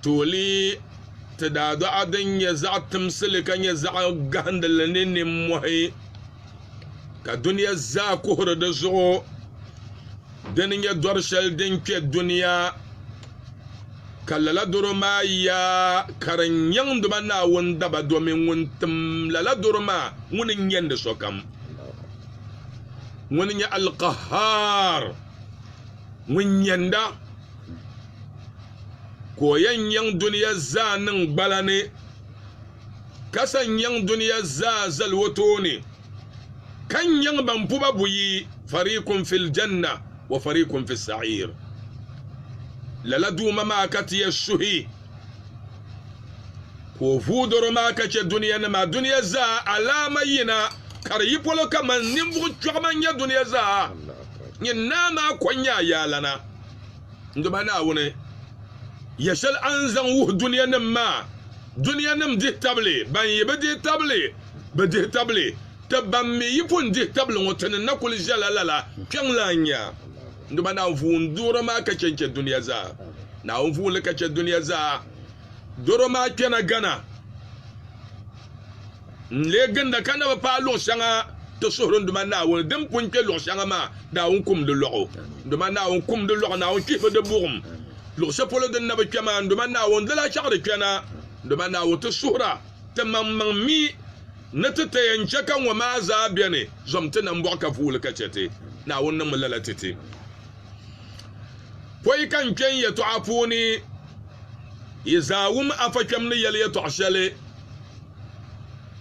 Tuuli ti daadɔɣa din nyɛ zaɣ timsili ka nyɛ zaɣ gahindili ni nimmɔhi ka dunia zaa kuhiri di zuɣu dini nyɛ dɔri shɛli din kpe dunia ka lala doro maa yaa ka di nyaŋdi ba Naawuni daba domin ŋun tim lala doro maa ŋuni n-nyandi sokam ŋuni n-nyɛ Al-Qahhaar ŋun nyanda ka o yɛn nyaŋ dunia zaa niŋ gbala ni ka sa n-nyaŋ dunia zaa zali o tooni ka nyaŋ ban pu ba buyi fariikun fil janna wa fariikun fi sa'iir lala Duuma maa ka ti yɛn suhi ka o vuui dɔro maa ka chɛ dunianima dunia zaa alaama yina ka di yi polo kaman ninvuɣ kpiɔɣu man nya dunia zaa nyin naa maa kɔŋ nya ayaalana. N Duuma Naawuni, yɛ shɛli a ni zaŋ wuhi dunianim maa, Dunianim dihi tabili ban yi bi dihi tabili, bi dihi tabili, Ti ban mi yi pun dihi tabili ŋɔ, ti ni na kul ʒiɛla lala, kpiɔŋ lahi nya. N Duuma Naawuni vuun duɣiri maa ka chɛ n-chɛ dunia zaa, Naawuni vuun li ka chɛ dunia zaa. doro maa kpɛna gana n lee ginda ka na bi paai luɣ shɛŋa ti suhuri n Duuma Naawuni. Din pun kpɛ luɣ shɛŋa maa, Naawuni kum di lɔɣu. N Duuma Naawuni kum di lɔɣu, Naawuni kpihi bi di buɣim. Luɣ shɛli polo din na bi kpɛ maa, n Duuma Naawuni di lahi chaɣ di kpɛna. N Duuma Naawuni, ti suhira timaŋmaŋ mi ni ti ti yɛn chɛ ka ŋɔ maa zaa beni zom ti nambɔɣu ka vuui li ka chɛ ti. Naawuni niŋmi lala ti ti. Pɔi ka n kpe n yɛtɔɣa puuni. Yi zaa wum afa kpɛm ni yɛli yɛtɔɣ shɛli,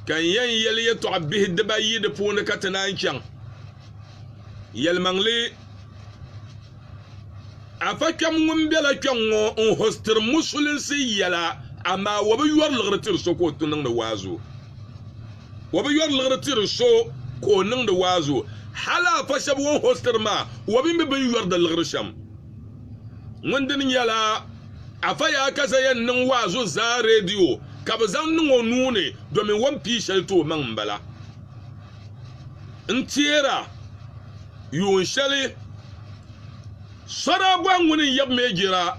ka n yɛn yɛli yɛtɔɣ bihi dibaayi di puuni ka ti naan chaŋ. Yɛlimaŋli, afa kpɛm ŋun bela kpɛŋ ŋɔ n-hostiri musulinsi yɛla, amaa o bi yɔri liɣiri tiri so ka o ti niŋdi waazu. O bi yɔri liɣiri tiri so ka o niŋdi waazu. Hal afa shɛba o ni hostiri maa, o bi mi bɛ ni yɔri di liɣiri shɛm. ŋun dini nyɛla Afa Yaa ka Zaya n-niŋ waazu n-zaa reediyo ka bɛ zaŋ niŋ o nuu ni domin o ni pii shɛli ti o maŋ m-bala n-teer a yuun shɛli sɔdaa bɔhi ŋuni n-yab mi jir a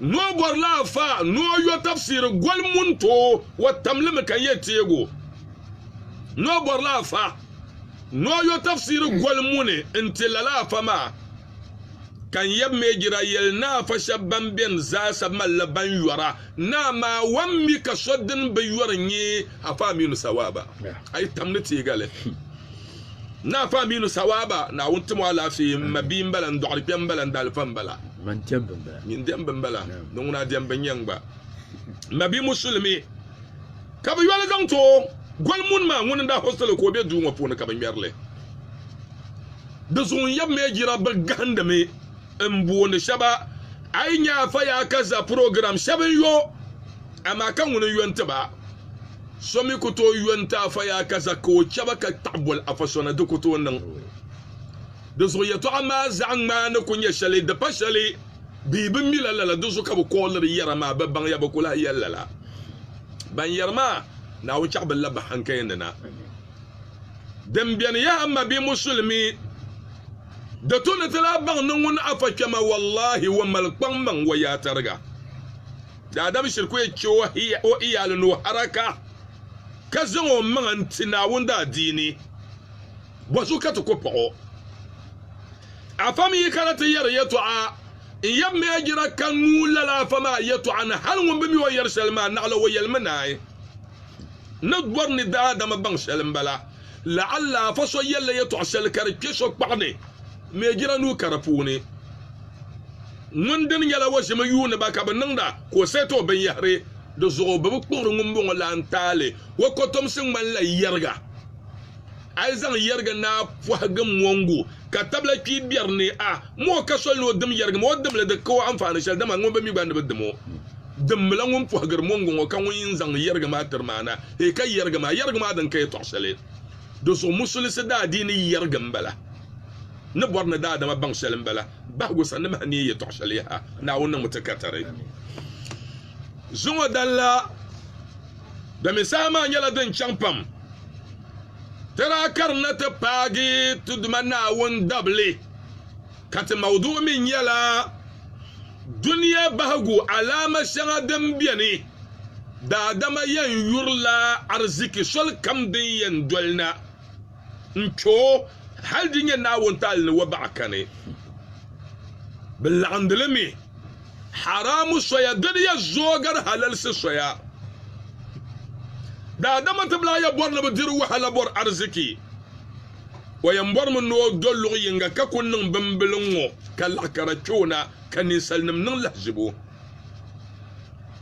ni o bɔri la Afa ni o yo tafsiri goli mun tooi o tam li mi ka n-yɛn teeg o ni o bɔri la Afa ni o yo tafsiri goli muni n-ti lala Afa maa. Ka n yab mi Ijirael naa fa shɛb bɛn beni zaasa malila ban yɔra naa maa wan mi ka so din bi yɔri nyɛ Afa Aminu Sawaba. A yi tam ni teegali. Naa Afa Aminu Sawaba, Naawuni tim o alaafee, m ma bia m-bala, n dɔɣiri kpɛm m-bala, n dalifa m-bala. Nyin dɛmbi m-bala, ni ŋuna dɛmbi n-nyɛ n gba. M ma bia Musulimi, ka bɛ yoli zaŋ ti o. Goli Munma ŋun n-daa hostili ka o be duu ŋɔ puuni ka bɛ ŋmɛri li. Di zuɣu n yɛbimi ya jira bɛ gahindimi n boondi shɛba a yi nya a fa ya ka za program shɛba n yo amaa ka ŋuni n yo nti ba so mi ku tooi yo nti a fa ya ka za ka o chɛba ka kpaɣi boli a fa so ni di ku tooi niŋ di zuɣu yɛtɔɣa maa zaɣ ŋmaa ni ku nyɛ shɛli di pa shɛli bee bɛ mi la lala di zuɣu ka bɛ kooliri yɛra maa bɛ baŋ ya bɛ ku lahi yɛli lala ban yɛri maa Naawuni chaɣi bɛ labahi n kaya ni na. Din beni yaha m ma bee musulimi di tu ni ti lahi baŋ ni ŋun afa kpɛma wallahi o mali kpaŋ maŋ o yaha tariga daadam shiri ku chɛ o iyaali ni o haraka ka zaŋ o maŋa n ti Naawuni daadiini bɔzu ka ti ku paɣ o afa mi yi kana ti yɛri yɛtɔɣa n yab mi a jira ka nuu lala afa maa yɛtɔɣa ni hal ŋun bi mi o yɛri shɛli maa naɣila o yɛlimi naai Ni gɔri ni daadama baŋ shɛli m-bala. La'alla afa so yɛlila yɛtɔɣ shɛli ka di kpe so kpaɣu ni mɛ jina nuu ka di puuni ŋun dini nyɛla o ʒimi yuuni ba ka bɛ niŋda ka o sɛti o binyɛhiri di zuɣu. Bibikpuɣiri ŋumbɔŋɔ lan taali o kotomsi ŋmanila yɛriga. A yi zaŋ yɛriga ni a pɔhigi mɔŋgu ka tabila kpii biɛri ni a mɔ o ka soli ni o dim yɛriga maa, o dim li di ka o anfaani shɛli, dama ŋumbɔŋɔ mi gba ni bi dim o. Dimbila ŋun pɔhigiri mɔŋgu ŋɔ ka ŋun yini zaŋ yɛriga maa tiri maa na, hee ka yɛriga maa, yɛriga maa din ka yɛtɔɣ shɛli. Di zuɣu Musulisi daadiini yɛrigi m-bala, ni bɔri ni daadama baŋ shɛli m-bala bahigu sani ni mahaniya yɛtɔɣ shɛli. Yaha! Naawuni niŋmi ti katari. Zuŋɔ dala domin saha maa nyɛla din chaŋ pam. Tira ka di na ti paagi ti Duuma Naawuni dabili ka ti mauduɣu mi nyɛla Dunia Bahigu Alaama Shɛŋa Din Beni, Daadama Yɛn Yurila Ariziki Soli Kam Din Yɛn Doli Na. n-kpe o, hal di nyɛ Naawuni taali ni wa baɣa kani. Bɛ laɣindi li mi, haraamu soya doli ya zuɣu gari halalsi soya. Daadama ti lahi ya bɔri ni bɛ diri wahala bɔri ariziki, o yɛn bɔrimi ni o do luɣ yiŋga ka ku niŋ bimbila ŋ-ŋɔ ka laɣikara kpe o na ka ninsalinim niŋ lahizibu.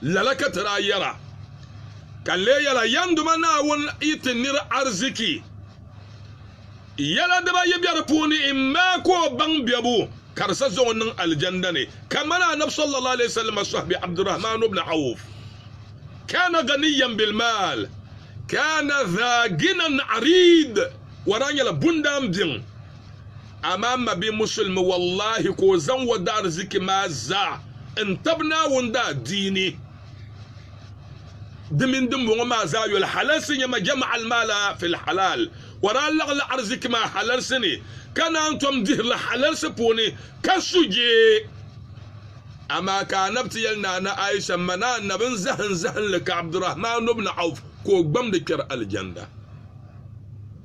Lala ka ti daa yɛra, ka n lee yɛla, Yɛnduma Naawuni yi ti nir ariziki, yɛla dibaa yi be di puuni, immɛ ka o baŋ biɛbu ka di sa zaŋ o niŋ Alijanda ni, kamani Annabi sallallahu alayhi wa sallam sɔhibi Abdurrahman ibn Awf, Kana ghaniyyan bil mal, kana dha ghinan ariid, O daa nyɛla bundaan biɛŋ, Amaa m mabia Musulimi, wallahi ka o zaŋ o daarzichi maa zaa n-tab Naawuni daadiini. Di mini dimbɔŋɔ maa zaa yoli halalsi n-nyɛ ma, jama al-maala fil halaal, ka o daa laɣila arzichi maa halalsi ni, ka naan tom dihiri li halalsi puuni, ka su jee. Amaa ka Anab ti yɛli Naana Aisha, M ma ni Anab n zahim zahimli ka Abdurahman ibn Awf ka o gbamdi kpɛri Alijanda.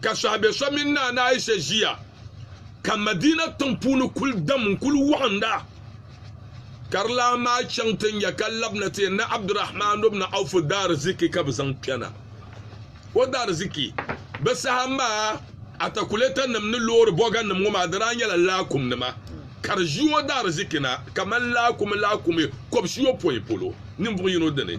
ka sɔhibɛ so mini Naana Aisha ʒiya ka Madiina tiŋ puuni kuli dam n-kuli wɔɣinda ka di lan maai chaŋ ti nya ka labina ti yɛn ni Abdurahman ibn Awf daariziki ka bɛ zaŋ kpɛna. O daariziki, bɛ saha maa atakulɛtanima ni loori bɔganima ŋɔ maa di daa nyɛla laakumnima ka di ʒi o daariziki na kaman laakumi laakumi kɔbisiyopɔin polo ninvuɣ yino dini.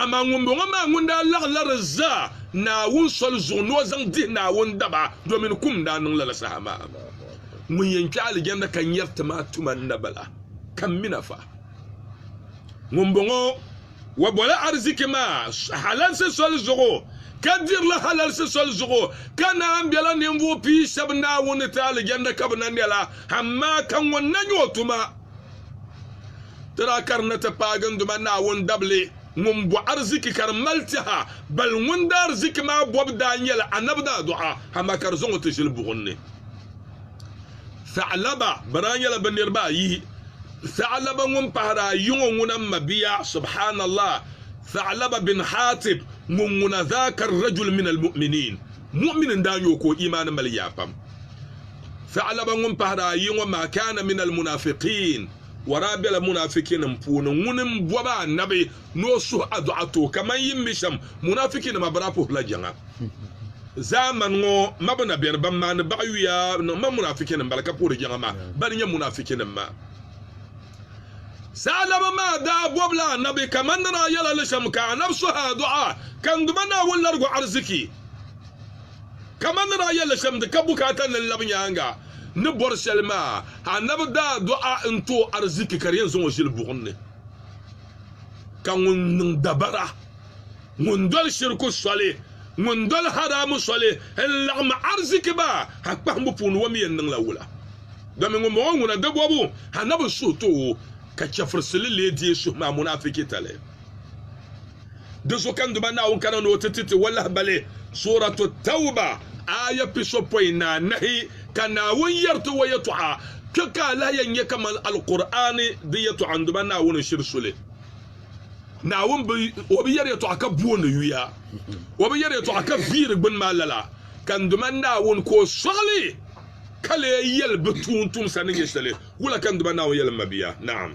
Amaa ŋumbɔŋɔ maa ŋun daa laɣ lari zaa Naawuni soli zuɣu ni o zaŋ dihi Naawuni daba, domin kum daa niŋ lala saha maa. Ŋun yɛn kpe alijanna ka nyari ti maa tuma n-na bala, ka m mi na fa. Ŋumbɔŋɔ wa bɔla ariziki maa halalsi soli zuɣu, ka diri li halalsi soli zuɣu, ka naan bela ninvuɣ pia shɛb Naawuni ni ti alijanna ka bɛ na nɛla, amaa ka ŋun na nya o tuma. Dara ka di na ti paai gindoma Naawuni dabili ŋun bo ariziki ka di mali tɛha, bali ŋun daa ariziki maa bobu daa nyɛla Annabi daadɔɣa, amaa ka di zaŋ o ti ʒili buɣim ni. Tha'laba, bɛ daa nyɛla bɛ niriba ayi, Tha'laba ŋun pahiri a yiŋɔ ŋuna m-mabia, subhaanallah, Tha'laba bin Haatib ŋun ŋuna, dhaaka ar-rajul min al-mu'miniin, mu'min n-daa nyɛ o ka o iimaani mali yaa pam. Fiɣilaba ŋun pahiri ayi ŋɔ maa kaana min almunafiqiin, o daa bela munafikinim puuni. Ŋuni m-bɔbi Annabi ni o suhi a dɔɣa ti o, kaman yi ni mi shɛm, munafikinima bi daa puhirila jiŋa. Zaamani ŋɔ ma bi na beni ban maani baɣiyuya ni ma munafikinim bala ka puhiri jiŋa maa, bali nyɛ munafikinim maa. Saalaba maa daa bɔbila Annabi kaman ni daa yɛla li shɛm, ka Annabi suhi a dɔɣa, Kanduma Naawuni largu ariziki. Kaman ni daa yɛl li shɛm, di ka bukaata ni n lab nyaaŋa ni bɔri shɛli maa, Anabi daa dɔɣi n ti o ariziki ka di yɛn zaŋ o ʒili buɣim ni. Ka ŋun niŋ dabara, ŋun doli shiriku soli, ŋun doli haraamu soli n-laɣim ariziki maa ha kpahimbu puuni, o mi yɛn niŋla wula? Domin ŋumbɔŋɔ ŋuna di bɔbu Anabi suhu ti o, ka chɛfurisi li lee deei suhu maa munaafikitali. Di zuɣu ka n Duuma Naawuni kana ni o ti ti ti walahibali Suuratu Tawba aaya pisopɔin ni anahi ka Naawuni yɛri ti o yɛtɔɣa, Kpe ka a lahi yɛn nya kaman Alkur'aani di yɛtɔɣa n Duuma Naawuni n-shiri so li. Naawuni bi, o bi yɛri yɛtɔɣa ka booni yuya, o bi yɛri yɛtɔɣa ka viiri gbini maa lala ka n Duuma Naawuni ka o sɔɣi li ka lee yɛli bɛ tuuntumsa ni nyɛ shɛli. Wula ka n Duuma Naawuni yɛli m mabia? Naam.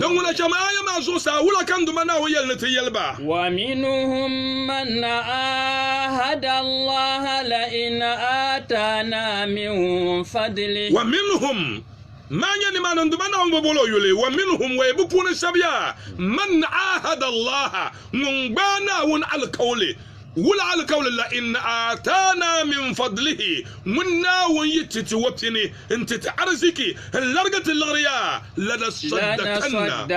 Din ŋuna chɛm aya maa zuɣusaa wula ka n Duuma Naawuni yɛli ni ti yɛli ba? Wa minhum, maa nyɛ nimaani n Duuma Naawuni bi bol o yuli, wa minhum, wei bɛ puuni sabiya, man aahada Allaha, ŋun gbaai Naawuni alikauli. Wula alikauli la Inna aataana min fadlihi, ŋun Naawuni yi ti ti o pini n-ti ti ariziki n-larigi ti liɣiri ya, lanaswaddakanna,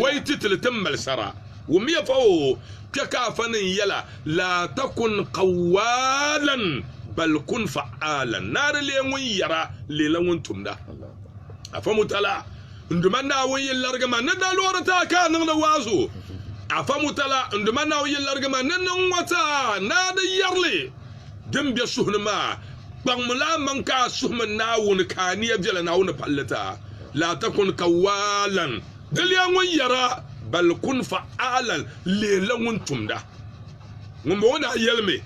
o yi ti ti li ti mali sara. Wummiya fa o, kpe ka a fa niŋ yɛla, Laa takun qawwaalan, bal kun fa'aalan, naari leei ŋun yɛra, leela ŋun tumda. Afamutala. N Duuma Naawuni yi larigi ma ni dalɔri ti a ka a niŋdi waazu, a fa Mutala, N Duuma Naawuni yi larigi ma ni niŋ ŋɔ ti a, naa di yɛrli din be suhu ni maa, kpaŋmi la amaŋ ka a suhimi Naawuni ka a nia viɛla Naawuni ni palli ti a. Laatakun ka waalan diliya ŋun yɛra, bal kun fa'alan leela ŋun tumda. Ŋumbɔŋɔ daa yɛlimi,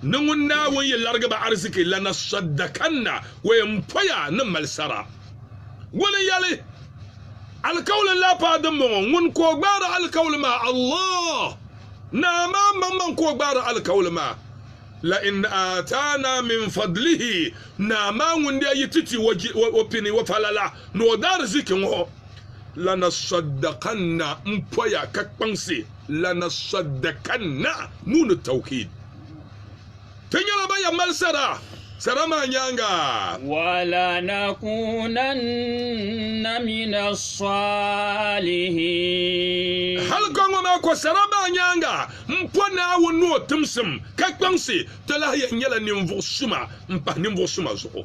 Ni ŋun Naawuni yi larigi ba ariziki la na sɔdakanna, o yɛn poya ni mali sara. Ŋuni n-yɛli, Alikauli n-lahi paai dimbɔŋɔ, ŋun ka o gbaari alikauli maa, Allah, Naa maa maŋmaŋ ka o gbaari alikauli maa, La in aataana min fadlihi, Naa maa ŋun daa yi ti ti o pini, o falala, ni o daariziki ŋɔ, Lanasaddakanna, m poya ka kpaŋsi, Lanasaddakanna, nuu ni tawkiid. Ti nyɛla ban yɛn mali sara sara maa nyaaŋa. Walanakunanna mina salihin. Hali ka ŋɔ maa kɔ sara maa nyaaŋa m-pɔ Naawuni ni o timsim ka kpaŋsi, ti lahi yɛn nyɛla ninvuɣ suma m-pahi ninvuɣ suma zuɣu.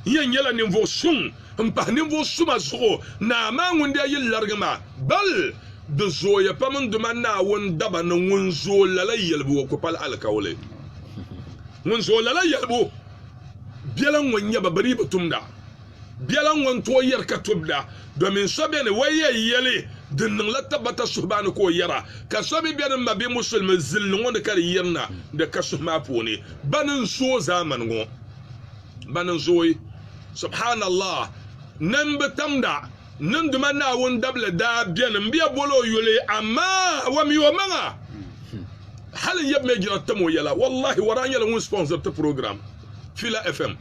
N yɛn nyɛla ninvuɣ suŋ. n pahi ninvuɣ suma zuɣu naa maa ŋun daa yi larigi maa, bal di zooya pam n Duuma Naawuni daba ni ŋun zooi lala yɛlibu o ku pal alikauli. Ŋun zooi lala yɛlibu biɛla ŋ-ŋɔ n-nyɛ ba, bɛ dii bi tumda. Biɛla ŋ-ŋɔ n-tooi yɛri ka tubda, domin so beni o yi yɛn yɛli din niŋla tabbata suhubaani ka o yɛra, ka so mi beni m-ma bee musulimi zilli ŋɔ ni ka di yirina di ka suhu maa puuni. Bɛ ni n-zooi zaamani ŋɔ. ban n zooi. Subhaanallah! Nin bi tamda niŋduma Naawuni dabili daa beni m bɛ bol o yuli, amaa a wa mi o maŋa hal n yab mi jina tam o yɛla. Wallahi Waraa nyɛla ŋun sponsor ti program Fila FM,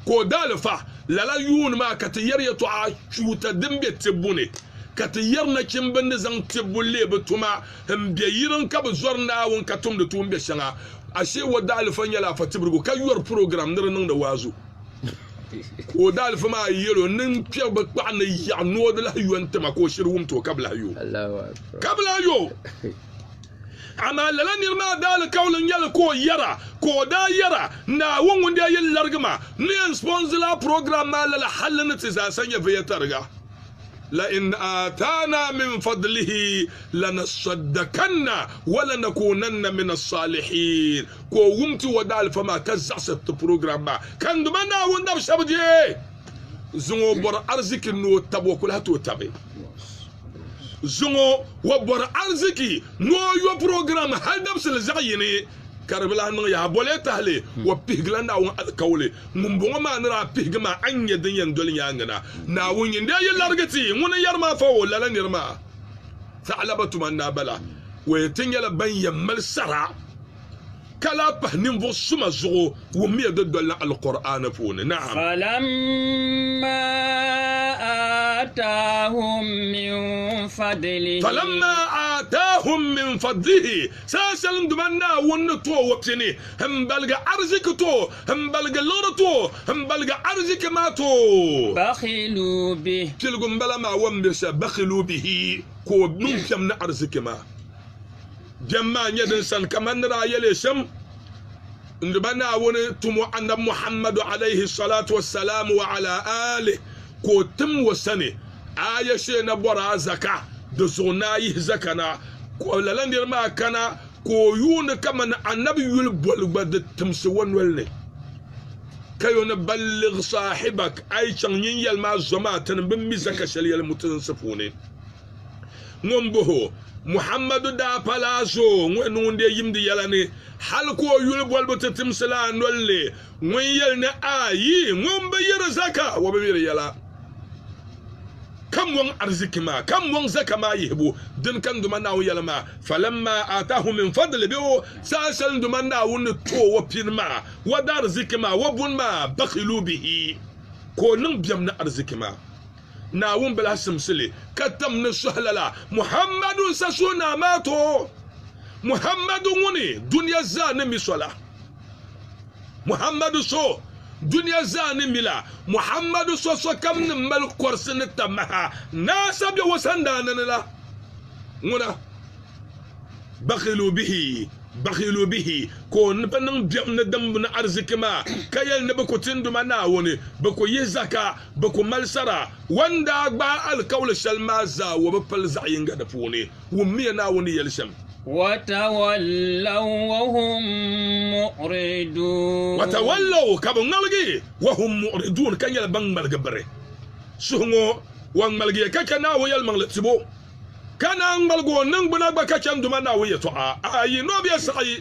ka o daalifa lala yuun maa ka ti yɛri yɛtɔɣa chuuta din be tibbu ni, ka ti yɛri nachimba ni zaŋ tibbu leei bɛ tuma. n be yirin ka bi zɔri Naawuni ka tumdi tuun be shɛŋa. Ashee o daalifa nyɛla Afa Tibirigu ka yɔri program ni di niŋdi waazu ka o daalifa maa yɛl o ni kpɛri bi kpaɣu ni yaɣi ni o di lahi yo n-ti ma ka o shiri wumti o ka bi lahi yo. Ka bi lahi yo. Amaa lala nir maa daali kauli n-nyɛ li ka o yɛra ka o daa yɛra, Naawuni ŋun daa yɛn larigi ma ni yɛn sponsor lala program maa lala hal ni ti zaasa nyɛ viya tariga. la in atana min fadlihi lanasaddakanna wa lanakunanna min assalihin ka o wum ti o daalifa maa ka zaɣisi ti program maa ka n duma Naawuni dab shɛb deei zuŋɔ o bɔri arziki ni o tab o ku lahi ti o tabi zuŋɔ o bɔri arziki ni o yo program hal dabisili zaɣ yini Ka di bi lahi niŋ yaha boli tahili o pihigila Naawuni alikauli ŋumbɔŋɔ maa ni daa pihigi maa, a ni nya din yɛn doli nyaaŋa na. Naawuni nyin daa yi larigi ti ŋuni n-yɛri maa fa o, lala nir maa taɣilaba tuma n-daa bala. O yɛn ti nyɛla ban yɛn mali sara ka lahi pahi ninvuɣ suma zuɣu wummiya di dolila Alkur'aani puuni. Na'am. Falamma aataahum min fadlihi. Falamma aataahum min fadlihi. Saha shɛli n duma Naawuni ni ti o wa piɛ ni n baligi ariziki ti o, n baligi liɣiri ti o, n baligi ariziki maa ti o. Bakhilu bih. Piligu n bala maa wa m-be shɛli, bakhilu bihi, ka o niŋ biɛm ni ariziki maa. Biɛm maa n-nyɛ din sani kaman ni daa yɛl ya shɛm. N di ba Naawuni tumo Annabi Muhammadu alayhi salatu wa salaam wa ala alihi ka o tim o sani aaya shee na bɔri a zaka di zuɣu ni a yihi zaka na ka lala niri maa kana ka o yuuni kamani Annabi yuli boli gba di timsi o noli ni ka yo ni balligh saahibak a yi chaŋ nyin yɛli maa zom a tini bɛ mi zaka shɛli yɛli mutinsi puuni. Ŋun boho, Muhammadu daa pala azoo ŋun niŋ ŋun-dee yimdi yɛla ni, hal ka o yuli bolibu ti timsi la a nol ni, ŋun yɛli ni, A yi ŋun bi yiri zaka, o bi yiri yɛla. Ka mɔŋ ariziki maa, ka mɔŋ zaka maa yihibu din kani duma Naawuni yɛla maa, falamma aataahum min fadli bih o saha shɛli duma Naawuni ni ti o o pini maa, o daariziki maa, o buni maa, bakhiluu bihi, ka o niŋ biɛm ni ariziki maa. Naawuni bi lahi simsi li ka tim ni suhi lala Muhammadu n-sa suhi naa maa ti o, Muhammadu ŋuni dunia zaa ni mi so la. Muhammadu so dunia zaa ni mi la, Muhammadu so sokam ni mali kɔrisi ni ta maha naa sa be o sandaani ni la. Ŋuna, bakhilu bihi, bakhilu bihi, ka o ni bi niŋ biɛm ni dimbu ni ariziki maa, ka yɛli ni bɛ ku tinduma Naawuni, bɛ ku yihi zaka, Bɛ ku mali sara. Wan n daa gbaai alikauli shɛli maa zaa, o bi pili zaɣ yiŋga di puuni. Wummiya Naawuni ni yɛli shɛm. Watawallaw wahum muɣridun. Watawallaw, ka bɛ ŋmaligi, wahum muɣridun, ka nyɛla ban ŋmaligi biri. Suhuŋɔ, o ŋmaligiya ka chɛ Naawuni yɛlimaŋli tibu, ka naan ŋmaligi o niŋgbuna gba ka chanduma Naawuni yɛtɔɣa. Ayi, nɔbiɛ saɣi.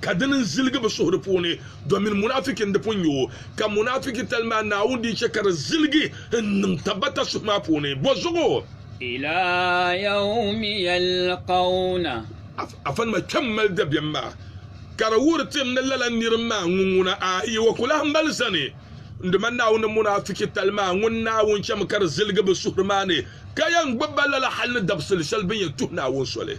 ka dini n-ziligi bɛ suhuri puuni, domin munafiki n-di pun nyɛ o, ka munafikitali maa Naawuni di chɛ ka di ziligi n-niŋ tabbata suhu maa puuni. Bɔzuɣu! Ila yawmi yalqawna. Afanima kpɛm mali dabiɛm maa, ka di wuhiri ti ni lala nir maa ŋun ŋuna, a yi o ku lahi mali zani. N Duuma Naawuni ni munafikitali maa ŋun Naawuni chɛmi ka di ziligi bɛ suhuri maa ni, ka yɛn gbibi ba lala hal ni dabisili shɛli bɛ ni yɛn tuhi Naawuni soli.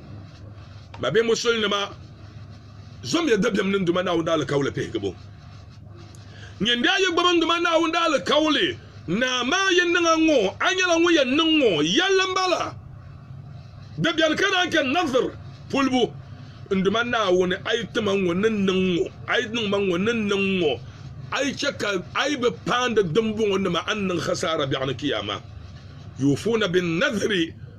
ba be musulinima zomya dabiɛm niŋ Duuma Naawuni alikauli pihigibu. Nyin daa yi gbubi n Duuma Naawuni alikauli naa maa yi niŋ a ŋɔ, a nyɛla ŋun yɛn niŋ ŋɔ yɛlli m-bala. Di beni ka naan chɛ Nadhir pulibu, N Duuma Naawuni, a yi ti ma ŋɔ ni niŋ ŋɔ, a yi niŋ ma ŋɔ ni niŋ ŋɔ, a yi chɛ ka a yi bi paandi dimbɔŋɔnima a ni niŋ khasaara biɛɣuni Kiyaama. Yuufuuna bin-nadhiri.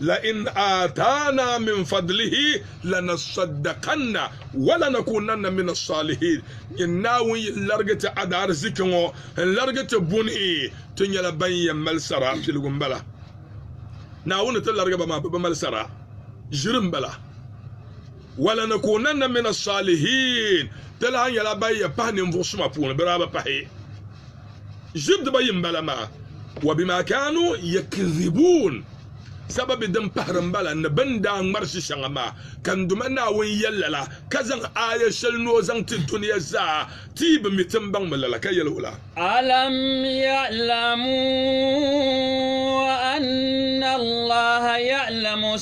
La in aataana min fadlihi lanasaddakanna wa lanakuunanna mina saalihiin. Nyin Naawuni yi larigi ti adaarziki ŋɔ n-larigi ti buni, ti nyɛla ban yɛn mali sara piligu m-bala. Naawuni ni ti larigi ba maa bɛ bi mali sara ʒiri m-bala. Wa lanakuunanna mina saalihiin, ti lahi nyɛla ban yɛn pahi ninvuɣ suma puuni, bɛ daa bi pahi. Ʒib dibayi m-bala maa, wa bima kaanu yakdhibuun, sababi din pahiri m-bala ni bɛ ni daa ŋmarisi shɛŋa maa, ka n Duuma Naawuni yɛl lala, ka zaŋ aaya shɛli ni o zaŋ ti dunia zaa ti yi bi mi ti ni baŋ mi lala, ka yɛl o la. Alam ya'lamu anna Allaha ya'lamu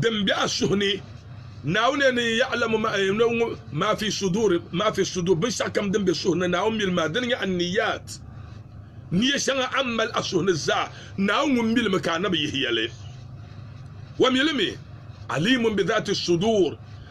din be a suhu ni. Naawuni yɛli ni ya'lamu ma fi sudur, ma fi sudur, binshɛɣukam din be suhu ni, Naawuni mi li maa. Dini n-nyɛ an-niyyat, niyya shɛŋa a ni mali a suhu ni zaa, Naawuni ŋun mi li mi ka a na bi yihi ya li. O mi li mi, alimun bi dhati sudur.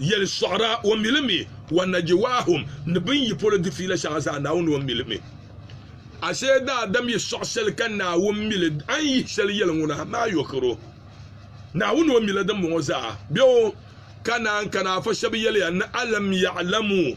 Yɛli sɔɣira o mili mi wa Najiwaahum ni bɛ ni yi polo di fiila shɛŋa zaa Naawuni o mili mi. Ashee daadam yi sɔɣi shɛli ka Naawuni mili a ni yihi shɛli yɛli ŋuna mi a yɔkiro Naawuni o mila dimbɔŋɔ zaa bɛ o ka naan kana a fa shɛba yɛliya ni alam ya'lamu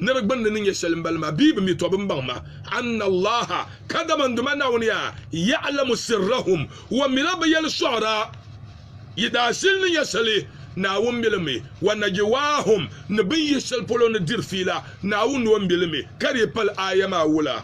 ni di gbunni ni nyɛ shɛli m-bali ma bee bɛ mi tɔbu m-baŋ ma, anna Allaha, kadama n Duuma Naawuni yaa, ya'lamu sirrahum, o mila bɛ yɛli sɔɣira, yi daashili ni nyɛ shɛli, Naawuni mi li mi, wa najiwaahum, ni bɛ ni yihi shɛli polo ni diri fiila, Naawuni ni o mi li mi, ka di yi pali aaya maa wula.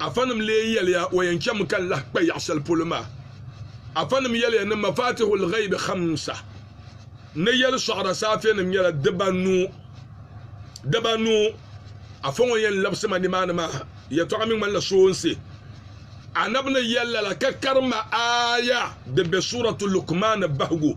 Afanim lee yɛliya o yɛn chɛmi ka n lahi kpa yaɣ shɛli polo maa. Afanim yɛliya ni mafatihul ghaibi khamsa ni yɛli sɔɣira saafiɛnim nyɛla dibanu. Dibanu! Afa ŋɔ yɛn labisi ma nimaani maa yɛtɔɣa mi ŋmanila soonsi. Anabi ni yɛl lala ka karim ma aaya din be suuratu Luqmaan bahigu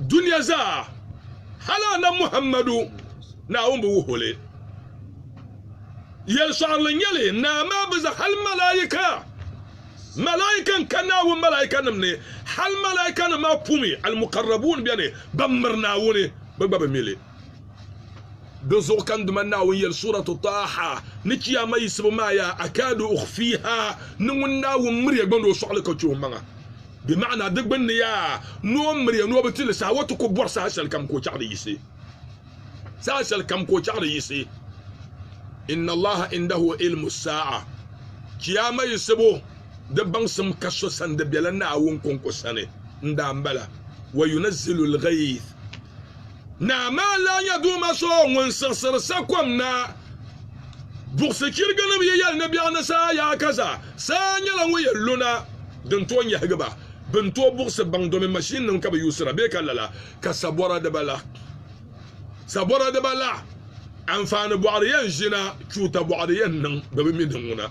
Dunia zaa hali Annabi Muhammadu Naawuni bi wuhi o li. Yɛlisɔɣirili n-nyɛ li, Naa maa bi za hali Malaika. Malaika n ka Naawuni Malaikanim ni, hali Malaikanim maa pumi, Al-Mukarrabuun beni, ban miri Naawuni, bɛ gba bi mi li. Dinzuɣu ka n Duuma Naawuni yɛli Suuratu Taaha ni Chiyaama yiɣisibu maaya, Akaadu ukhfiiha, ni ŋun Naawuni miri ya gbaŋ ni o sɔɣi li ka chɛ o maŋa. Bɛ maɣina di gbinni yaa, ni o miri ya ni o bi ti li saha, o ti ku bɔri saha shɛli kam ka o chaɣ di yiɣisi. Saha shɛli kam ka o chaɣ di yiɣisi. Inna Allaha indahu ilmu saa'a, Chiyaama yiɣisibu di baŋsim ka so sani di bela Naawuni kɔŋko sani n-daa m-bala. Wa yunazzilu l-ghayth, Naa maa lahi nyɛ Duuma so ŋun siɣisiri sakom na. Buɣisi chiriginim yi yɛli ni biɛɣu ni saa yaa ka za, saa nyɛla ŋun yɛn lu na din tooi nyahigi ba. Bɛ ni tooi buɣisi baŋ domi mashinnim ka bɛ yuusira bee ka lala ka sabɔra di ba la. Sabɔra di ba la, anfaani bɔɣiri yɛn ʒina, chuuta bɔɣiri yɛn niŋ domi mi din ŋuna.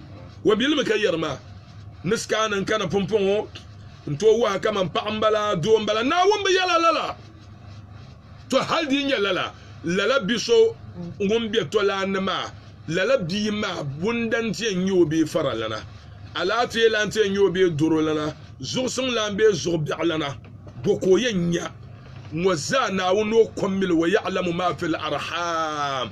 O bilimi ka yɛri ma, Ni sikaana n-kana pumpɔŋɔ n-tooi wahi kaman paɣ m-bala, doo m-bala. Naawuni bi yɛla lala. Tɔ! Hal di yi nyɛ lala, lala bi so ŋun be tɔ lan ni maa, lala bia maa bundan ti yɛn nyɛ o bee faralana, alaafee lan ti yɛn nyɛ o bee dorolana, zuɣusim lan bee zuɣu biɛɣulana, bɔ ka o yɛn nya? Ŋɔ zaa Naawuni ni o kɔmmili o yaɣilamu maa fil arham.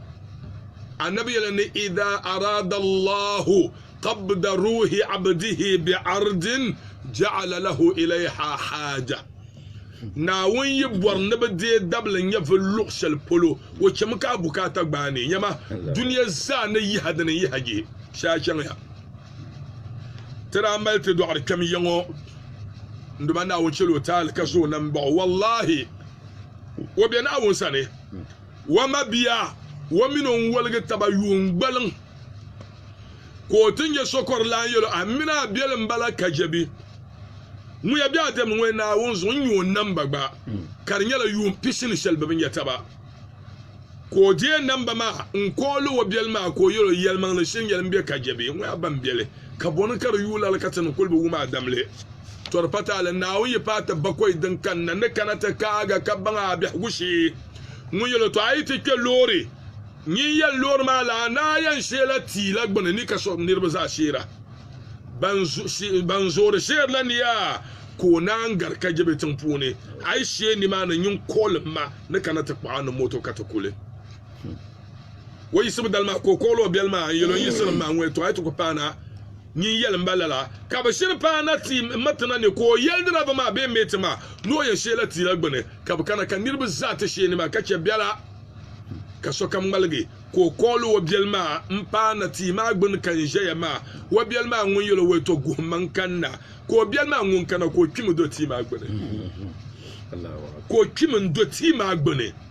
annabi yɛla ni idha arada allahu qabda ruhi abdihi bi ardin ja'ala lahu ilayha haja naawun yi bɔri ni bi deei dabili n-nyɛ vi luɣ shɛli polo o chɛmi ka a bukaata gbaai ni nyɛma dunia zaa ni yiha dini n-yiha jihi shɛhi a chaŋya ti daa mali ti dɔɣiri kpɛm ya ŋɔ n-duma naawun chɛli o taali ka zo o nam baɣ o wallahi o be naawun sani O mabia o mini o n-woligi taba yuun gbaliŋ ka o ti nya sokorlan yɛl o, A mi ni a biɛlim bala Kajabi. Ŋuya bɛ a dɛmdi ŋɔ ya Naawuni zuɣu n-nyɛ o namba gba, ka di nyɛla yuun pisi ni shɛli bɛ bi nya taba. Ka o deei namba maa n-kooli o biɛli maa ka o yɛl o, Yɛlimaŋli shiri yɛli m-be Kajabi, ŋuya ba m-biɛli, ka bɔ ni ka di yuui lala ka ti ni kul bi wum a damli? Tɔri pataali, Naawuni yi paai ti bakɔi din kanna ni kana ti kaag a ka baŋ a biɛhigu shee. Ŋun yɛl o tɔ a yi ti kpe loori, nyin yɛl loori maa la a ni a yɛn sheela tia la gbini ni ka so niriba zaa sheera. Ban zoori sheerila ni yaa ka o naan gari ka je bɛ tiŋ puuni. A yi shee nimaani nyin kɔlim ma ni kana ti kpuɣ a ni moto ka ti kuli. O yiɣisibu dali maa ka o kɔɣili o biɛli maa n-yɛl o yiɣisinim maa, Ŋun yɛtɔɣa yi ti ku paana, nyin yɛli m ba lala. Ka bɛ shiri paana ti m ma ti na ni ka o yɛli diraiva maa bee meeti maa ni o yɛn sheela ti la gbini. Ka bɛ kana ka niriba zaa ti sheeni maa ka chɛ biɛla ka sokam ŋmaligi ka o kɔɣili o biɛli maa m-paana tia maa gbini ka n ʒɛya maa. O biɛli maa ŋun yɛl o o yɛtɔɣ guhimma n-kanna ka o biɛli maa ŋun kana ka o kpimi n-do tia maa gbini.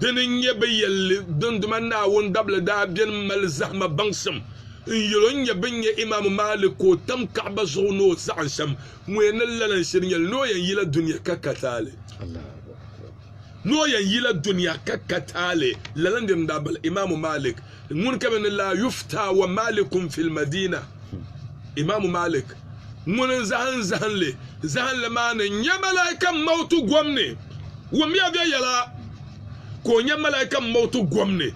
Dini n-nyɛ bɛ yɛlli, Dinduma Naawuni dabili daa beni mali zahima baŋsim n yɛl o n nyɛ bɛn nyɛ Imaam Maalik ka o tam Kaɣaba zuɣu ni o saɣim shɛm ŋuya ni lala n shiri nyɛli ni o yɛn yila dunia ka ka taali. Ni o yɛn yila dunia ka ka taali, lala n-diri n daa bala Imaam Maalik. ŋun ka bɛ ni laa yufta wa malikun fil madina imaamu malik ŋun n zahin zahinli zahinli maa ni nya malaika mautu gom ni wumya bɛ yɛla ka o nya malaika mautu gom ni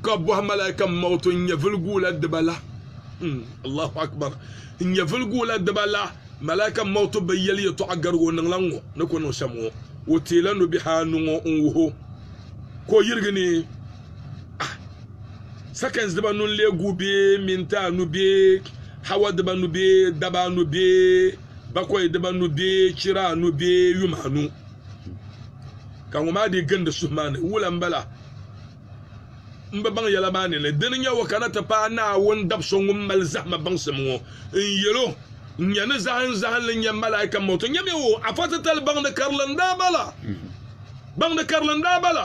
ka bɔhi malaika mautu n nya viliguula diba la hmm, allahu akbar n nya viliguula diba la malaika mautu bi yɛli yɛtɔɣa gariga o niŋla ŋɔ ni ko niŋ shɛm ŋɔ o teela nubihi anu ŋɔ n wuho ka o yirigi ni seconds diba nu n-lee guui bee minti anu bee hawa diba nu bee daba anu bee bakɔi diba nu bee chira anu bee yuma anu ka ŋɔ maa dii gindi suhu maa ni wula m-bala m bi baŋ yɛla maa ni ni dini n-nyɛ o kana ti paai Naawuni dabso ŋun mali zahima baŋsim ŋɔ n-yɛl o n-nya ni zahinzahinli n-nyɛ malaika m-ma o ti nyami o afa titali baŋdi karili n-daa bala baŋdi karili n-daa bala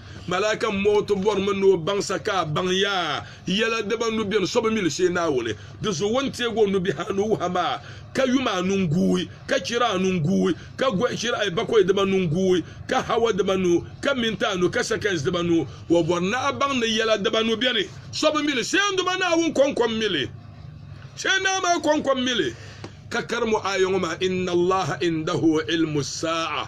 Malaika m-mooi ti bɔrimi ni o baŋsa ka a baŋ ya yɛla dibaa nu beni so bi mi li shee Naawuni. Di zuɣu o ni teeg o nubihi anu wuhi ma ka yum anu n-guui, ka chira anu n-guui, ka gɔhi chira ayibakɔi dibaa nu n-guui, ka hawa dibaa nu, ka minti anu, ka sɛkɛns dibaa nu. O bɔri ni a baŋ ni yɛla dibaa nu beni so bi mi li shee Duuma Naawuni kɔŋkɔm mi li, shee Naa maa kɔŋkɔm mi li. Ka karim o aaya ŋɔ maa, Inna Allaha indahu ilmu saa'a.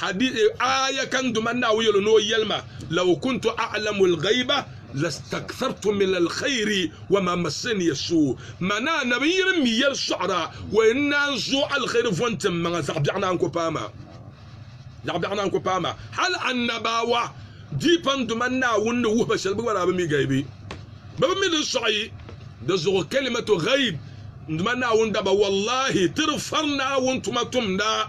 Hadithi, Aaya ka n Duuma Naawuni yɛl o ni o yɛlima, Law kuntu a'lamu al-ghayba lastakthartu min al-khayri wa ma massani as-su'. Mani Annabi, n yi ni mi yɛli sɔɣira, o yɛn ni naan zooi alheri von tim maŋa zaɣ biɛɣu naan ku paai ma. Zaɣ biɛɣu naan ku paai ma. Hal Annabawa diipa n Duuma Naawuni ni wuhi ba shɛli bɛ gba daa bi mi gaibi. Bɛ bi mi din sɔɣi di zuɣu kalimatu ghayb n Duuma Naawuni daba, Wallahi! Ti di fari Naawuni tuma tumda.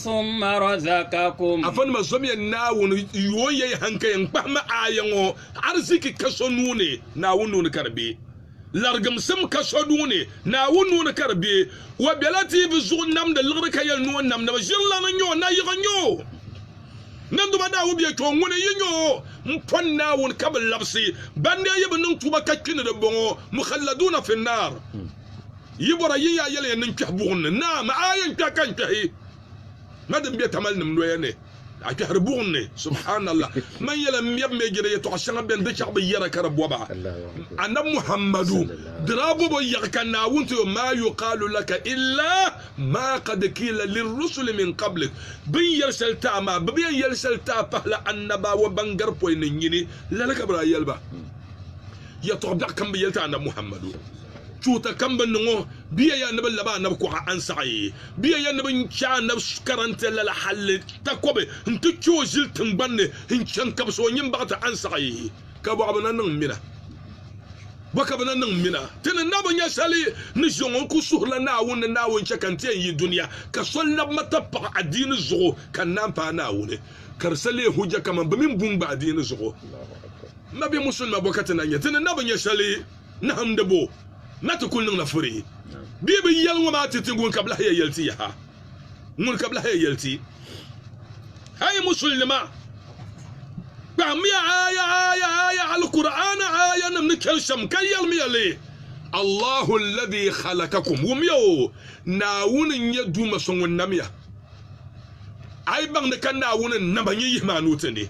ثم رزقكم Afanima zɔmiya Naawuni yuun yɛi hankaya n-kpahimi aaya ŋɔ, Ariziki ka so nuu ni, Naawuni nuu ni ka di be. Larigimsim ka so nuu ni, Naawuni nuu ni ka di be. O bela dihibu zuɣu namdi liɣiri ka yɛli ni o nam ni ba, Ʒirilana n-nyɛ o, nayiɣi n-nyɛ o. Nanduma daa wuhi bɛ yɛtɔɣa, Ŋuni n-yi nyɛ o? M pɔn Naawuni ka bɛ labisi, ban daa yi bi niŋ tuuba ka kpi ni di bɔŋɔ, Mukhalladuuna fi nnaar. Yi bɔra yi yaa yɛliya ni n kpɛhi buɣim ni. Naa, ma a yɛn kpɛhi ka n kpɛhi ma din be tamalinim noya ni. A kpɛhiri buɣim ni? Subhaanallah! Man yɛla m mɛbu mɛjiri yɛtɔɣ shɛŋa bɛn di chɛɣu bi yɛra ka di bɔba. Annabi Muhammadu daa bɔb o yaɣi ka Naawuni ti o, Maa yuqaalu laka illa maa qad qiila lirrusuli min qablik, Bɛ ni yɛli shɛli ti a maa, bɛ bi yɛn yɛli shɛli ti a pahila Annabawa ban gari pɔi ni n-nyini lala ka bɛ daa yɛli ba. Yɛtɔɣ biɛɣu kam bi yɛli ti Annabi Muhammadu, chuɣita kam bi niŋ o, bɛ ya ya ni bɛ lab a Annabi kuɣa ansaɣi, bɛ ya ya ni bɛ chɛ Annabi karantɛ lala halli takɔbi nti kpe o ʒili tiŋgbani ni n-chaŋ kabisi o nyin baɣiti ansaɣi. Ka bɔ ka bɛ na niŋ mina? Bɔ ka bɛ na niŋ mina? Ti ni na bi nya shɛli ni ʒiɛŋ o, n kul suhirila Naawuni ni Naawuni chɛ ka n ti yɛn yi dunia ka so lab ma ti paɣi adiini zuɣu ka n naan paai Naawuni, ka di sa leei hujja kaman bɛ mi ni bu n gba adiini zuɣu. M ba bɛ musulima bɔ ka ti na nya ti ni na bi nya shɛli nahimdi bɔ na ti kul niŋla furi bee bi yɛli ŋɔ maa ti ti ŋun ka bɛ lahi ya yɛli ti yaha? Ŋun ka bɛ lahi ya yɛli ti? A yi musulinima! Kpahimiya aaya aaya aaya Alkur'aana aayanim ni chani shɛm ka yɛlimiya li, Allahu alladhi khalakakum, Wumiya o, Naawuni n-nyɛ Duuma so ŋun namiya. A yi baŋ ni ka Naawuni n-nama, nyin yihi ma a nuu tindi.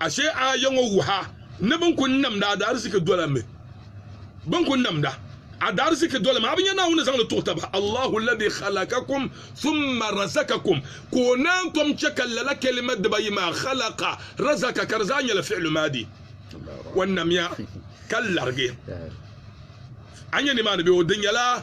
Ashe aaya ŋɔ wuhi a ni bɛ ni kul namdi adaarisiki dola mi? Bɛ ni kul namda adaarisiki dola mi? A bi nya Naawuni ni zaŋ li tuɣi taba, Allahu alladhi khalakakum thumma razakakum, ka o naan tom chɛ ka lala kalima dibaayi maa, khalaka, razaka, ka di zaa nyɛla fi'lu maadi. O namya ka larigi. A nya nimaani bee? O di nyɛla.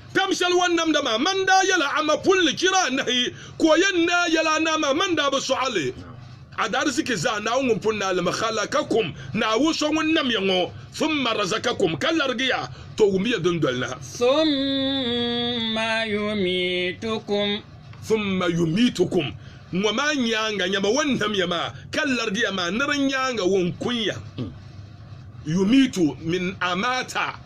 Tam shɛli o ni namda maa, mani daa yɛla a ma pulli chira anahi ka o yɛn naai yɛli anahi maa, mani daa bi sɔɣi li a daarzichi zaa, Naawuni ŋun pun naai li mi. Khalaqakum, Naawuni so ŋun nam ya ŋɔ, thumma razaqakum, ka larigi ya, tɔ wum ya dundoli na. Thumma yumiitukum. Thumma yumiitukum, ŋɔ maa nyaaŋa nyama o ni nam ya maa, ka larigi ya maa, ni di nyaaŋa o ni kun ya. Yumiitu min amaata.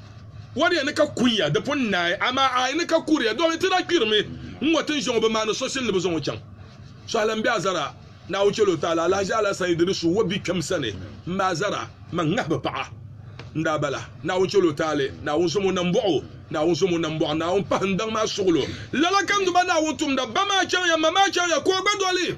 Ŋɔ di ni ka kunya, di pun naai, amaa a yi ni ka kuriya, domi ti daa kpirimi n-ŋɔ tin ʒiɛŋ o bi maani so shili ni bi zaŋ o chaŋ. Sɔhili n-be a zara Naawuni chɛli o taali alahiʒi alasan yi di ni su o bikpɛm sani m-ma a zara man ŋahibu paɣa n-daa bala. Naawuni chɛli o taali, Naawuni zom o nambɔɣu, Naawuni zom o nambɔɣu, Naawuni pahi n daŋ maa suɣilo. Lala ka n duba Naawuni tumda, Ba maa chaŋya, ma maa chaŋya, ka o gba doli.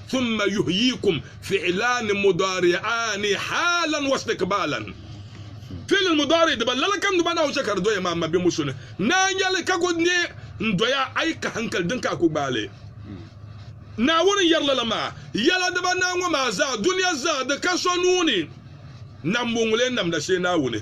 thumma yuhyikum fi'laani mudaari'aani haalan wa istikbaalan Fi'lul mudaari diba lala kam diba nahu shɛli ka di doya maa ma bɛmbo so ni Naa yɛli ka ku ne n-doya a yi ka hankali din ka a ku gbaali Naawuni yɛri lala maa yɛla diba naa ŋɔ maa zaa dunia zaa di ka so nuu ni Nambɔŋuli n-namda shee Naawuni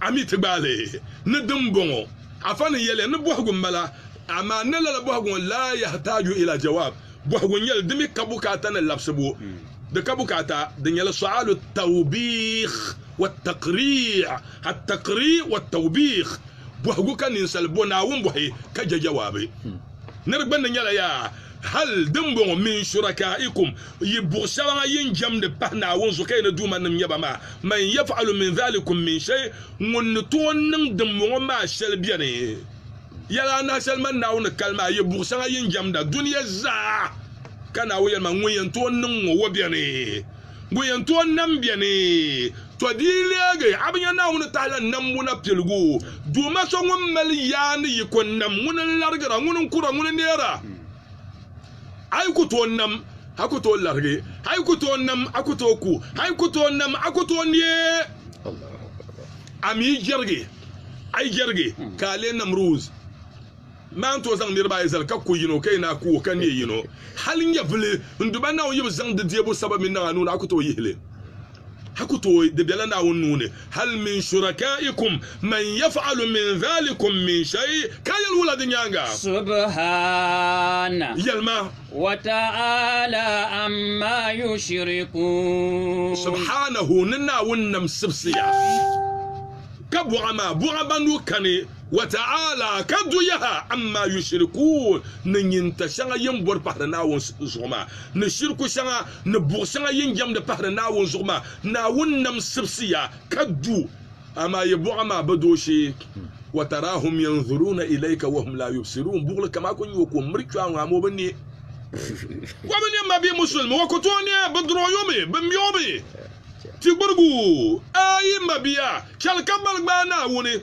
a mi ti gbaai li ni dimbɔŋɔ? Afa ni yɛli ni bɔhigu m-bala, amaa ni lala bɔhigu ŋɔ laa yahitaaju ila jawaab, bɔhigu n-nyɛli di mi ka bukaata ni labisibu, di ka bukaata, di nyɛla su'aalu tawbiih wa taqriih, at-taqriih wa tawbiih, bɔhigu ka ninsal bɔ Naawuni bɔhi ka je jawaabu. Nir gbandi nyɛla yaa! Hal dimbɔŋɔ min shuraka'ikum, yi buɣ shɛba ŋa yi ni jɛmdi pahi Naawuni zuɣu ka yi ni duumanim nyɛ ba maa, man yaf'alu min dhalikum min shay, ŋun ni tooi niŋ dimbɔŋɔ maa shɛli beni? Yɛl anahi shɛli man Naawuni ni kali maa, yi buɣ shɛŋa yi ni jɛmda dunia zaa, ka Naawuni yɛli man, Ŋun yɛn tooi niŋ ŋɔ, o beni? Ŋun yɛn tooi nam bɛ ni, to di yi leegi, a bi nya Naawuni tahala nambu na piligu? Duuma so ŋun mali yaa ni yi ko nam, ŋuni n-larigira? Ŋuni n-kura? Ŋuni n-neera? A yi ku tooi nam, a ku tooi larigi. A yi ku tooi nam, a ku tooi ku. A yi ku tooi nam, a ku tooi neei. A mi yi jɛrigi, a yi jɛrigi, ka a leei namri wuz. Naa n-tooi zaŋ niriba ayi zali ka ku yino, ka yi naa ku o ka neei yino. Hal nyɛvili n-du ba Naawuni yibu zaŋ di deebu saba mini naŋa nuu ni a ku tooi yihi li. A ku tooi, di bela Naawuni nuu ni. Hal min shurakaikum man yaf'alu min dhalikum min shay, ka yɛli wula di nyaaŋa? Subhaana. Yɛli ma. Wa ta'aala amma yushrikuun. Subhaanahu, ni Naawuni nam sibisiya, ka buɣa ma, buɣa ban du kani Wa ta'ala ka du yaha amma yushirikuun ni nyinta shɛŋa yin bɔri pahiri Naawuni zuɣu maa, ni shiriku shɛŋa ni buɣ shɛŋa yin jɛmdi pahiri Naawuni zuɣu maa. Naawuni nam sibisiya ka du, amaa yi buɣa maa bi du o shee. Wa taraahum yanzuruuna ilayka wa hum laa yubsiruun, buɣili kam a ku nya o ka o miri kpɛɣu ŋɔ amaa o bi nya. Wa bi nya ma bee musulimi, wa ku tooi nya bɛ durɔyɔmi, bɛ mɛɔmi, ti gbirigu. Ayi, mabia, chɛli ka gbali gbaai Naawuni.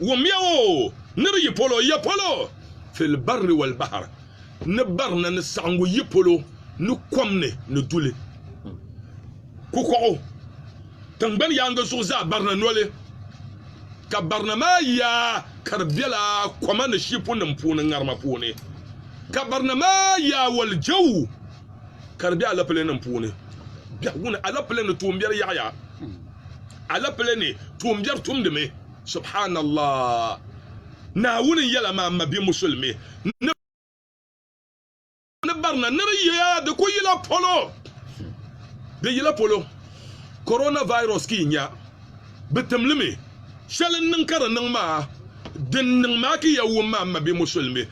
Wumya o ni bi yi polo ya polo fil barri wal bahar, ni barina ni saɣiŋgu yi polo ni kom ni ni duli. Kukɔɣu tiŋgbani yaaŋa zuɣu zaa barina noli, ka barina maa yaa ka di bela koma ni shipunima puuni ŋarima puuni, ka barina maa yaa wal jɛu ka di be alɛpilɛnim puuni. Biɛhigu ni alɛpilɛ ni tuumbiɛri yaɣiya alɛpilɛ ni tuumbiɛri tumdimi. Subhanallah! Naawuni yɛla maa m ma bɛ Musulimi ni barina ni di yiya di ku yila polo. Di yila polo. Corona virus ki yi nya bɛ timlimi shɛli n niŋ ka di niŋ maa din niŋ maa ki ya wum maa m ma bɛ Musulimi.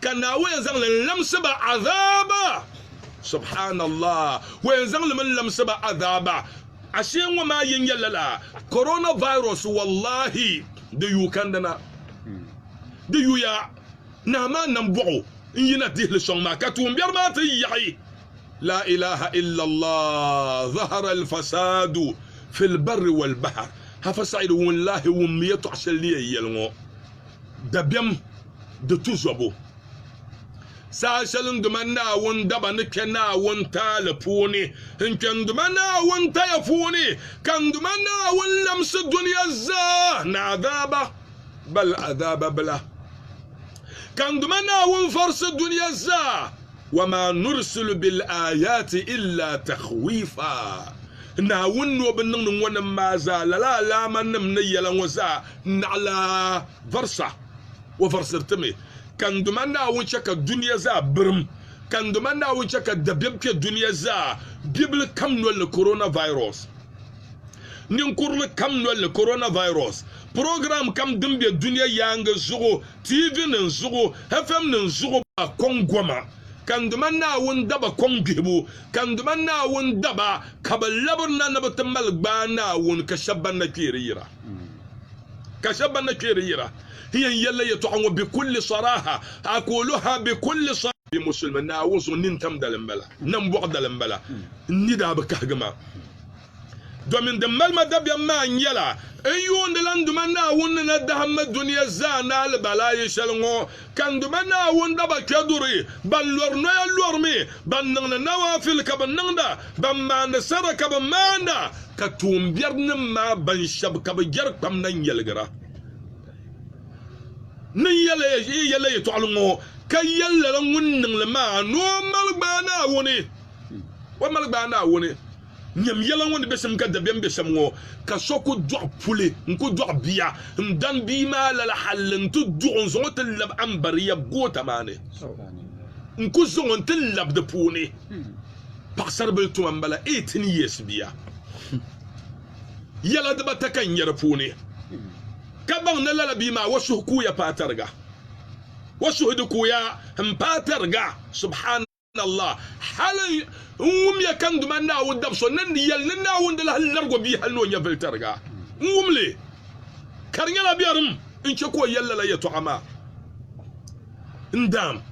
Ka Naawuni yɛn zaŋli n-lamsi ba azaaba. Subhaanallah! O yɛn zaŋ li mi n-lamsi ba azaaba. Ashee ŋɔ maa yi nya lala coronavirus wallahi di yuui kandina. Di yuya nahi maa nambɔɣu n-yina dihi li sɔŋ maa ka tuumbiɛri maa ti yaɣi Laa ilaaha illallah zahara al-fasaadu fil barri wal bahar. Hafa Said wun lahi wum yɛtɔɣ shɛli ni yɛn yɛli ŋɔ. dabiɛm di tuzɔbu. Saha shɛli n duma Naawuni daba ni kpe Naawuni taali puuni n kpe n duma Naawuni taya puuni ka n duma Naawuni lamsi dunia zaa ni azaaba bal azaaba bila. Ka n duma Naawuni vɔrisi dunia zaa, wa maa nurisilu bil ayaati illa takhwiifa. Naawuni ni o bi niŋdi ŋɔ nim maa zaa lala alaamannim ni yɛla ŋɔ zaa N naɣila varsa, o varsiri ti mi, ka n Duuma Naawuni chɛ ka dunia zaa birim, ka n Duuma Naawuni chɛ ka dabiɛm kpe dunia zaa bibili kam nol ni, coronavirus. Ninkurili kam nol ni, coronavirus. Program kam din be dunia yaaŋa zuɣu, tiivinim zuɣu, FMnim zuɣu, ba kɔŋ goma, ka n Duuma Naawuni da ba kɔŋ gbihibu, ka n Duuma Naawuni da ba ka bɛ labirina ni bɛ ti mali gbaai Naawuni ka shɛb bɛn na kpeeri yira. ka shɛba ban na kpee di yira n yɛn yɛlila yɛtɔɣa ŋɔ bi kulli saraha a koolu ha bi kulli saraha bi musulimi Naawuni zuɣu nini tam dali m-bala nambɔɣu dali m-bala n ni daa bi kahigi maa domin din mali ma dabiɛm maa nyɛla n yuundila n Duuma Naawuni ni na dahim ma dunia zaa ni alibalaai shɛli ŋɔ Ka n Duuma Naawuni daba kpe duri, ban lɔri noya lɔrimi, ban niŋdi nawaafil ka bi niŋda, ban maandi sadaqa ka bi maanda, ka tuumbiɛrinim maa ban shɛb ka bi jɛri kpam na n-yɛligira ni n yɛl la yɛtɔɣili ŋɔ, ka yɛl lala ŋun niŋ li maa ni o mali gbaai Naawuni. Nyam yɛla ŋɔ ni be sim ka dabiɛm be shɛm ŋɔ, ka so ku dɔɣi puli n-ku dɔɣi bia n-dan bia maa lala hal n-ti duɣ o n-zaŋ o ti lab Ambariya goota maa ni n-ku zaŋ o n-ti lab di puuni. Paɣisaribili tuma m-bala, eighteen years bia. Yɛla dibata ka n nya di puuni, ka baŋ ni lala bia maa o suhu kuuya paai tariga. O suhu di kuuya m-paai tariga, subhan. Allah, hali n wumya ka n duma Naawuni dab so ni ni yɛli ni Naawuni di lahi labig o bia hali ni o nyɛvili tariga. N wum li, ka di nyɛla biɛrim n chɛ ka o yɛli lala yɛtɔɣa maa. N Daam,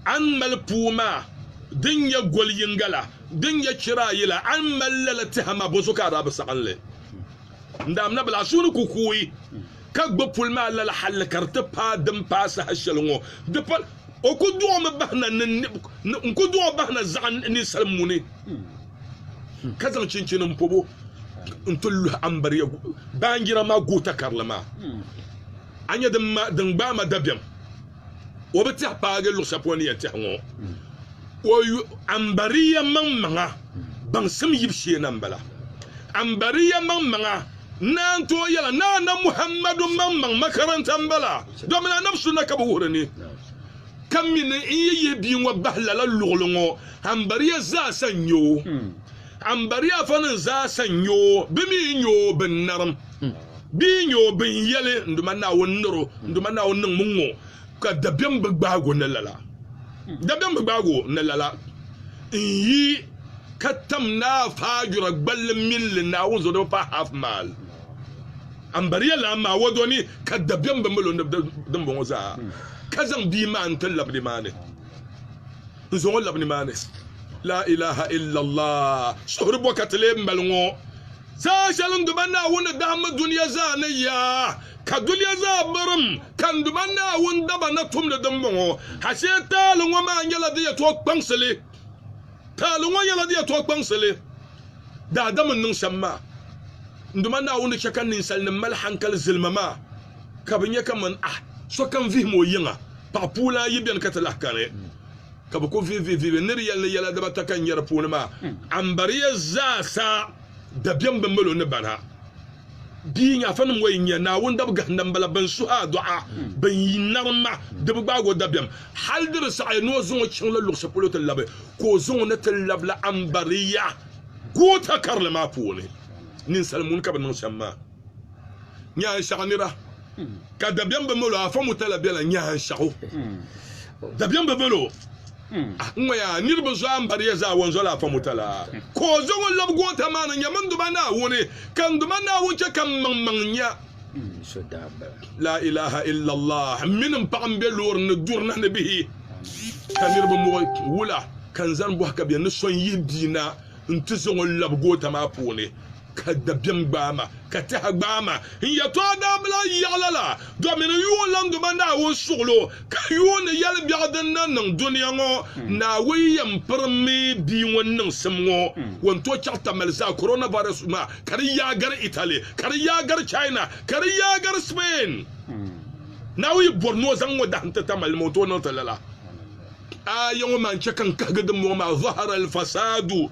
a ni mali puu maa din nyɛ gol yiŋga la, din nyɛ chira ayi la, a ni mali lala tɛha maa, bɔso ka a daa bi saɣim li? N Daam, nabila, a suhu ni ku kuui. ka gba pol maa lala halli ka di ti paai din paai saha shɛli ŋɔ. Di pa, o ku dɔɣimi bahi na ni n ku dɔɣi bahi na zaɣi ninsal muni, ka zaŋ chinchini m-pɔb o nti luhi Ambariya baanjira maa goota karili maa. A nya din gbaai ma dabiɛm. o bi tɛhi paagi luɣ shɛli polo ni yɛn tɛhi ŋɔ o yu Ambariya maŋmaŋa baŋsim yibu shee na m-bala. Ambariya maŋmaŋa naan tooi yɛla ni Annabi Muhammadu maŋmaŋ makaranta m-bala domin Annabi sunna ka bɛ wuhiri ni. Ka mi ni n yi yihi bia ŋɔ bahi lala luɣili ŋɔ, Ambariya zaasa n-nya o. Ambariyafanim zaasa n-nyɛ o, bɛ mi n-nyɛ o binnarim, bɛ yi nyɛ o bɛn yɛli, Nduma Naawuni nir o, Nduma Naawuni niŋmi ŋ-ŋɔ, ka dabiɛm bi gbaag o ni lala. Dabiɛm bi gbaag o ni lala n-yi ka tam Naa Faajura gballi min li Naawuni Zɔdɔba Paɣ Half Mile Ambariya Lan maa wɔdɔ ni, ka dabiɛm bi mil o ni dimbɔŋɔ zaa, ka zaŋ bia maa n-ti labidi maa ni. N zo ŋɔ labi nimaani. Laa ilaha illallah, suhuri bɔkati lee m-bali ŋɔ. Saha shɛli n duba Naawuni ni dahimmi dunia zaa ni ya, ka dunia zaa birim, ka n duba Naawuni daba na tumdi din bɔŋɔ. Ashee taali ŋɔ maa nyɛla di yɛtɔɣ kpaŋsili. Taali ŋɔ nyɛla di yɛtɔɣ kpaŋsili. Daadam n niŋ shɛm maa, n duba Naawuni ni chɛ ka ninsalinim mali hankali zilima maa. ka bɛ nya kaman a sokam vihim o yiŋa. Paɣ puulan ayi beni ka ti lahi kani ka bɛ ku vihi vihivihibu. Nir yɛli ni yɛla dibata ka n nya di puuni maa. Ambariya zaasa dabiɛm bi mali o ni bani ha. Bia nyaafanim ŋɔ yi nya Naawuni dab gahinda bala bɛn suhi a dɔɣa, bɛ yi narim ma, di bi gbaag o dabiɛm. Hal di bi saɣi ni o zaŋ o chaŋ la luɣ shɛli polo ti labi, ka o zaŋ o ni ti lab la Ambariya goota karili maa puuni. Ninsal muni ka bɛ niŋ shɛm maa. nyaanshɛɣu ni ba ka dabiɛm bi mali o afa mutala bela nyaanshɛɣu dabiɛm bi mali o ŋɔya niriba zɔya m-bari ya zaa wɔn zɔla afa mutala ka o zaŋ o labi goota maa ni nya mini Duuma Naawuni ka n Duuma Naawuni chɛ ka m maŋ maŋ nya laa ilaha illallah m mini m paɣa m-be loori ni duri na ni bihi ka niriba muɣi wula ka n zani bɔhi ka bɛ ni so n-yihi bia na nti zaŋ o labi goota maa puuni ka dabiɛm gbaai ma, ka tɛha gbaai ma, n yɛtɔɣa daa bi lahi yaɣi lala, dɔmini yuunlaniŋdoma Naawuni suɣilo, ka yuuni yɛlibiɛɣu din na niŋ dunia ŋɔ. Naawuni yɛn pirimi bia ŋun niŋsim ŋɔ, ŋun tooi chaɣi tamali zaa, coronavirus maa, ka di yaagari Italy, ka di yaagari China, ka di yaagari Spain. Naawuni yi bɔri ni o zaŋ ŋɔ dahim ti tamali nima, o ni tooi niŋ ti lala. Aaya ŋɔ maa n-chɛ ka n kahigi dimbɔŋɔ maa, Zahara al-fasaadu.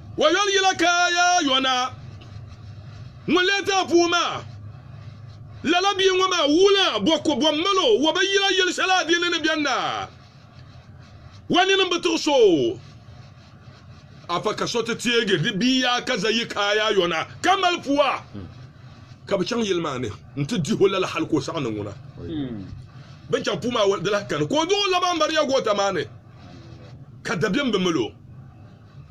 Wayon yila ka ya yona ŋun lee ti a puu maa. Lala bia ŋɔ maa wuhila bɔ ko bɔ mal o wa ba yila yeli shɛli a di ni ni beni na. Wa nini m-bi tuɣi so o. Afa ka so ti teegi di bia yaa ka za yi ka ya yona ka mal pua ka bɛ chaŋ yili maa ni n-ti dih o lala hal ka o saɣi ni ŋuna. Bɛ ni chaŋ puu maa di lahi kani ka o duɣi o laba Mariya goota maa ni ka dabiɛm bi mil o.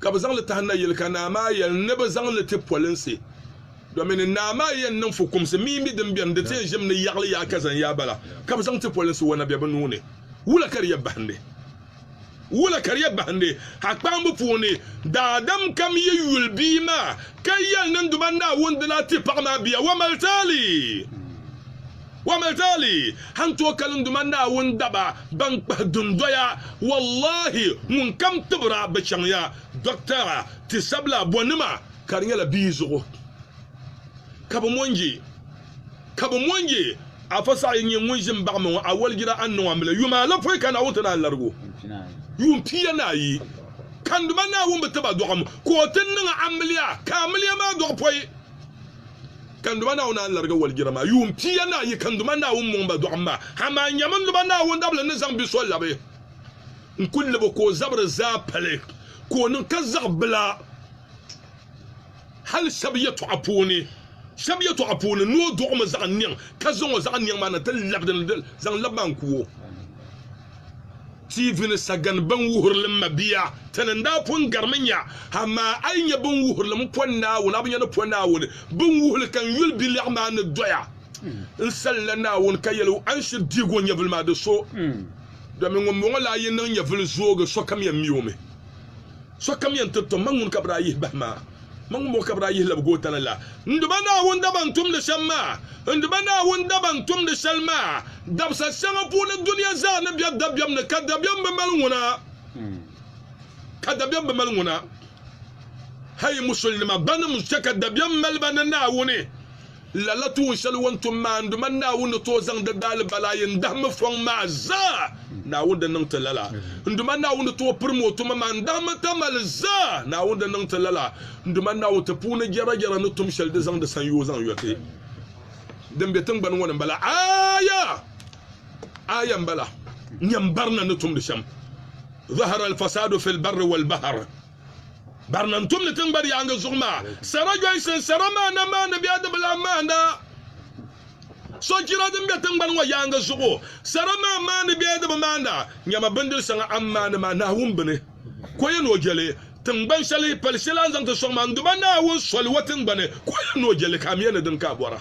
ka bɛ zaŋ li tahi nayili ka naa maa yɛli ni bɛ zaŋ li ti polinsi domini naa maa yɛn niŋ fukumsi mii mi din beni di tee ʒimi ni yaɣili yaa ka zani yaa bala ka bɛ zaŋ ti polinsi wa na be bɛ nuu ni wula ka di yɛ bahindi wula ka di yɛ bahindi ha kpaambu puuni daadam kam yi yuli bia maa ka yɛli ni n duma Naawuni di lahi ti paɣa maa bia wa mali taali Wamatali han tooi kalinduma Naawuni daba ban kpahi dundoya, wallahi ŋun kam tibir a bɛ chaŋ ya, dɔkitara, tisabila, abɔnima, ka di nyɛla bia zuɣu ka bɛ mo n-je, ka bɛ mo n-je Afa Saha yi nyɛ ŋun ʒi m-baɣi ma ŋɔ, awaligira anu ŋɔ m-mili yuma alapɔi ka Naawuni ti naan lari o yuun pia ni ayi. Kanduma Naawuni bi ti ba dɔɣim ka o ti niŋ amiliya, ka amiliya maa dɔɣi pɔi. Kanduma Naawuni a ni larigi walijira maa yuun pia ni ayi kanduma Naawuni mɔŋ ba dɔɣim maa, amaa nyami n duba Naawuni dabili ni zaŋ bi so labi n kul lib o ka o zabiri zaa pali ka o niŋ ka zaɣ bila hal shɛb yɛtɔɣa puuni shɛb yɛtɔɣa puuni ni o dɔɣimi zaɣ niɛŋ ka zaŋ o zaɣ niɛŋ maa na ti lab din zaŋ lab maa n ku o. TV ni sagani binwuhirilim mabiya ti ni daa pun garimi nya, amaa a yi nya binwuhirilim Pɔ Naawuni, a bi nya ni Pɔ Naawuni. Binwuhili ka n yuli bi lɛɣu maa ni doya n salila Naawuni ka yɛli o, A ni shiri dihigu o nyɛvili maa, di so, domin ŋumbɔŋɔ la a yi niŋ nyɛvili zoogi, sokam yɛn mi o mi. Sokam yɛn ti tom ma ŋun ka bɛ daa yihi bahi maa, ma ŋun bɔŋɔ ka bɛ daa yihi lab gootani la. N duba Naawuni daba n tumdi shɛm maa, n duba Naawuni daba n tumdi shɛli maa, dabisa shɛŋa puuni dunia zaa ni be dabiɛm ni, ka dabiɛm bi mali ŋuna, ka dabiɛm bi mali ŋuna. Hal yi musulinima banim chɛ ka dabiɛm mali ba ni Naawuni. Lala tuun shɛli o ni tum maa n-du ma Naawuni ni tooi zaŋ di daalibali ayi n-dahimi fɔŋ maa zaa. Naawuni di niŋ ti lala. N Duuma Naawuni ni tooi pirim o tuma maa n-dahimi tamali zaa. Naawuni di niŋ ti lala. N Duuma Naawuni, ti puuni jɛrajɛra ni tum shɛli di zaŋdi sanyoo zaŋ yɔ ti din be tiŋgbani ŋɔ ni m-bala. Aaya! Aaya m-bala. Nyam barina ni tumdi shɛm. Zahara al-fasaadu fi al-barri wal-bahar. Barina n-tumdi tiŋgbani yaaŋa zuɣu maa sara Johnson sara maana maani bɛ adibila maana sochira din be tiŋgbani ŋɔ yaaŋa zuɣu sara maa maani bɛ adibi maana nyama bindiri saŋa a ni maani maa Naawuni bini ka o yɛn ni o je li tiŋgbani shɛli pali shɛli a ni zaŋ ti sɔŋ maa n-duba Naawuni soli o tiŋgbani ka o yɛn ni o je li ka a mi ya ni dini ka a bɔra.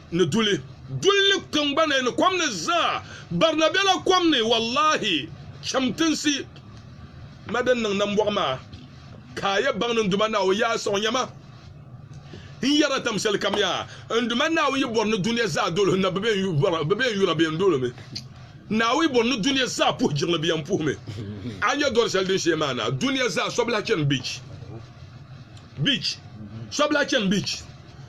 ni duli duli ni tiŋgbani ni kom ni zaa barina bela kom ni wallahi cham tinsi ma din niŋ nambɔɣu maa ka a yɛ baŋ ni n Duuma Naawuni yɛla a sɔŋ nyɛma n yɛra tam shɛli kam yaa n Duuma Naawuni yi bɔri ni dunia zaa doli hinna bɛ bɛ n yura bɛ yɛn doli mi Naawuni yi bɔri ni dunia zaa puhi jiŋli bɛ yɛn puhi mi a nya dɔri shɛli din shee maa na dunia zaa so bi lahi chani beach beach so bi lahi chani beach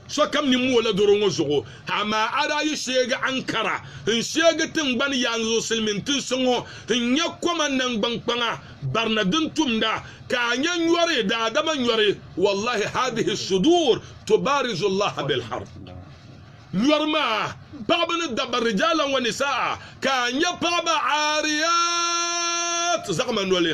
Sokam nini mooi la doro ŋɔ zuɣu, amaa a daa yi sheegi Ankara n-sheegi tiŋgbani yaansi zuɣu silimiin tinsi ŋɔ n-nyɛ koma naŋgbankpaŋa barina din tumda, ka a nya nyɔri, daadama nyɔri, wallahi hadhihi sudur tubarizu Allaha bil harb. Nyɔri maa, paɣaba ni dabba, rijalan wa nisaa, ka a nya paɣaba aariyaat, zaɣima noli.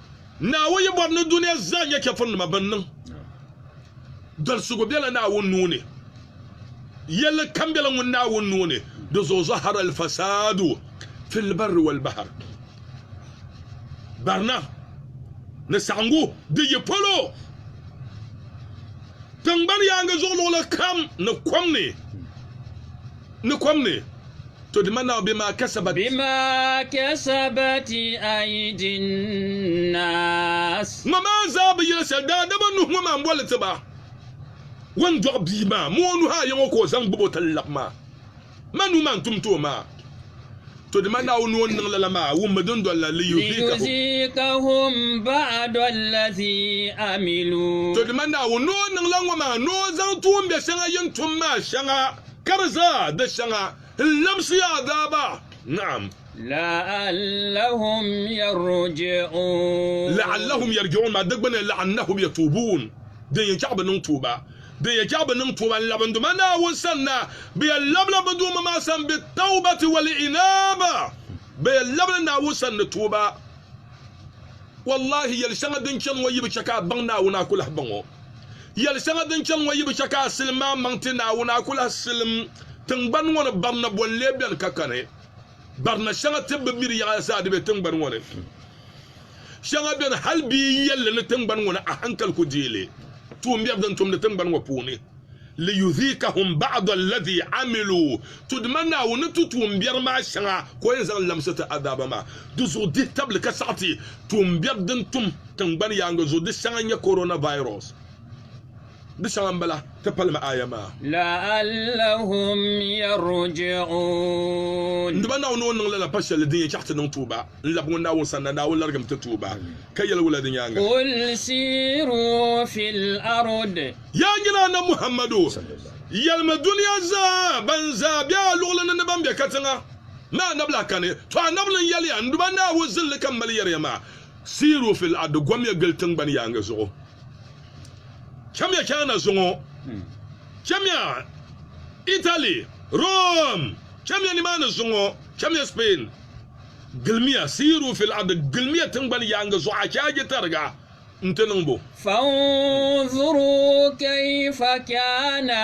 Naawuni yi bɔri ni dunia zaa nyɛ chɛfurinima bɛn niŋ dolsigu bela Naawuni nuu ni, yɛlli kam bela ŋun Naawuni nuu ni, di zuɣu zahara al-fasaadu fil barri wal bahar, barina ni saɣiŋgu di yi polo tiŋgbani yaaŋa zuɣu luɣili kam ni kom ni. To di ma Naawuni bɛ maa kasabat. Bima kasabati aidin nas. Ŋɔ maa zaa bi yɛli shɛli daadama nuhi ŋɔ maa m-boli li ti ba. O ni dɔɣi bia maa mɔɔ nuhi ayi ŋɔ ka o zaŋ gbubi o tali lab maa. Ma nuu maa n-tum ti o maa. To di ma Naawuni ni o ni niŋ lala maa wummi din doli la liyuziikahum. Liyuziikahum ba'dɔllazi amilu. To di ma Naawuni ni o niŋ la ŋɔ maa ni o zaŋ tuumbiɛ shɛŋa yi ni tum maa shɛŋa. Ka di zaa di shɛŋa n-labisi ya daaba. Naam. La'allahum yarji'uun. La'allahum yarji'uun maa di gbunni la'annahum yatuubuun, din yɛn chaɣ bɛ niŋ tuuba. Din yɛn chaɣ bɛ niŋ tuuba n-labindi ma Naawuni sanna, bɛ yɛn labila bɛ Duuma maa sani bit-tawbati wal-inaaba, bɛ yɛn labila Naawuni sani ni tuuba. Wallahi yɛli shɛŋa din chani ŋɔ yi bi chɛ ka a baŋ Naawuni a ku lahi baŋ o. Yɛli shɛŋa din chani ŋɔ yibu chɛ ka a silim a maŋ ti Naawuni, a ku lahi silim tiŋgbani ŋɔ ni barina boli n-lee beni ka kani. Barina shɛŋa tibbu miri yaɣili zaa di be tiŋgbani ŋɔ ni. Shɛŋa beni hal bɛ yi yɛl li ni tiŋgbani ŋɔ ni a haŋkali ku deei li. Tuumbiɛri din tumdi tiŋgbani ŋɔ puuni. liyudhiqahum ba'd alladhi amilu, to dima Naawuni ni tu tuumbiɛri maa shɛŋa ka o yɛn zaŋ lamsi ti azaaba maa di zuɣu dihi tabili ka saɣi ti tuumbiɛri din tum tiŋgbani yaaŋa zuɣu di shɛŋa n-nyɛ coronavirus di shɛŋa m-bala. Ti palimi aya maa. La'allahum yarji'uun. N dima Naawuni ni o niŋ lala pa shɛli din yɛn chaɣi ti niŋ tuuba. N labi ŋun Naawuni sanna, Naawuni larigimi ti tuhi ba. Ka yɛli wula di nyaaŋa? Qul siiru fil ard. Yaa nyini Annabi Muhammadu! Yɛlimi dunia zaa, ban zaa be a luɣili ni ni ban be katiŋa, ni Annabi lahi kani. Tɔ! Annabi ni yɛli ya, N duba Naawuni zilli ka m mali yɛri ya maa, Siiru fil ard, gomya gili tiŋgbani yaaŋa zuɣu. Chamiya China zuŋɔ, chamiya Italy, Rome, chamiya nimaani zuŋɔ, chamiya Spain. Gilimiya, siiru fil ardi, gilimiya tiŋgbani yaaŋa zuɣu, a chɛ a je tariga nti niŋ bo? Fanzuru kayfa kana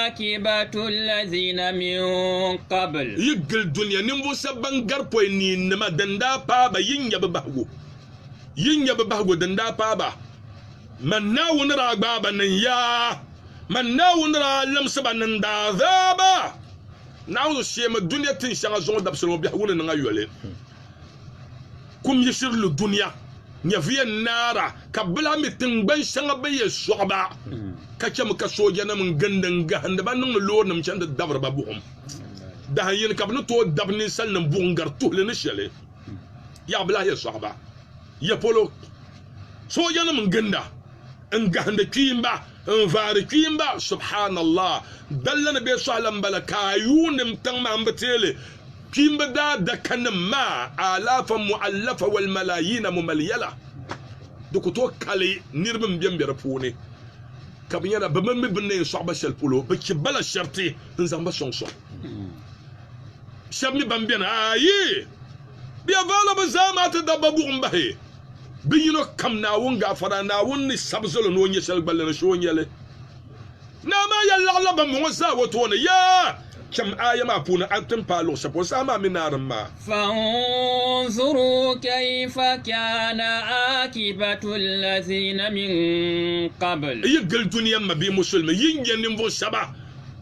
akibatu alladhina min qabl. Yi gili dunia ninvuɣu shɛba ban gari pɔi niinnima din daa paai ba, yi nya bɛ bahigu. Yi nya bɛ bahigu din daa paai ba. Man Naawuni daa gbaai ba ni n-yaai. Man Naawuni daa limsi ba ni n-daa zaai ba. Naawuni shihimi dunia tin shɛŋa zuŋɔ dabisili ŋɔ biɛhigu ni niŋ ayoli. Kum yi shiri lu dunia, nyɛvuya n-naara ka bɛ lahi mi tiŋgbani shɛŋa bɛ yɛn sɔɣi ba, ka chɛmi ka soojanima n gindi n-gahindi ba niŋmi loorinima chani ti dabiri ba buɣim. Dahin yini ka bɛ ni tooi dabi ninsalinim buɣim gari tuhili ni shɛli? Yaha bɛ lahi yɛn sɔɣi ba? Yɛpolo soojanima n-ginda n-gahindi kpiimba N vaari kpiimba, Subhaanallah! Dalla ni bɛ sɔhila m-bala ka a yuuni m tiŋ maa m-bi teeli kpiimba daadakanim maa aalaafan mu'allafa wal malaayiina m-mali yɛla. Di ku tooi kali niriba m-bem be di puuni ka bɛ nyɛla bɛ mi mi bɛ ni yɛn sɔɣi ba shɛli polo, bɛ chɛ ba la sharti n-zaŋ ba sɔŋsɔŋ. Shɛb mi ban beni, ayi! Bɛ ya vaala bɛ zaa maa ti dabba buɣim bahi. Bɛ yino kam Naawuni gaafara, Naawuni ni sabi zal o ni o nya shɛli gballi ni so o nya li. Naa maa yɛli laɣila bambɔŋɔ zaa o tooni, Yaa! Cham aaya maa puuni a ni ti ni paai luɣ shɛli polo saha maa mini naarim maa. Fanzuru kaifa kana aakibatu allazina min qabl. Yi gili dunia mabihi musulimi, yi nya ninvuɣ shɛba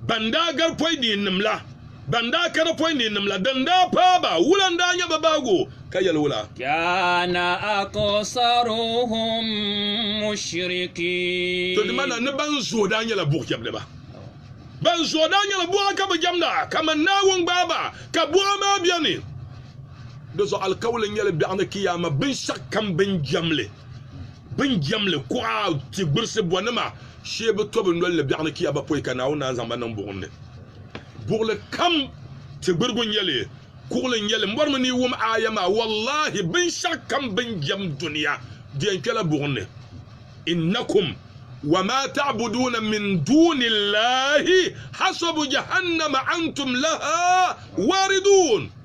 ban daa gari pɔi neenim la. Ban daa kana pɔi neenim la, din daa paai ba, wula n-daa nyɛ bɛ bahigu, ka yɛli wula? Kana aksaruhum mushrikiin. Tɔdimana ni ban zooi daa nyɛla buɣijɛmdiba. Ban zooi daa nyɛla buɣa ka bɛ jɛmda, kaman Naawuni gbaai ba, ka buɣa maa beni. Di zuɣu alikauli n-nyɛ li biɛɣuni Kiyaama binshɛɣukam bɛ ni jɛm li. Bɛ ni jɛmli kuɣa tigbirisi bɔnima shee bɛ to bɛ noli ni biɛɣuni kiya ba pɔi ka Naawuni naan zaŋ ba niŋ buɣim ni. Buɣili kam tigbirigu n-nyɛ li, kuɣili n-nyɛ li. M bɔrimi ni yi wum aaya maa, wallahi binshɛɣu kam bɛ ni jɛm dunia di yɛn kpɛla buɣim ni. Innakum wa maa ta'buduuna min duuni Llaahi hasabu jahannama antum lahaa waariduun.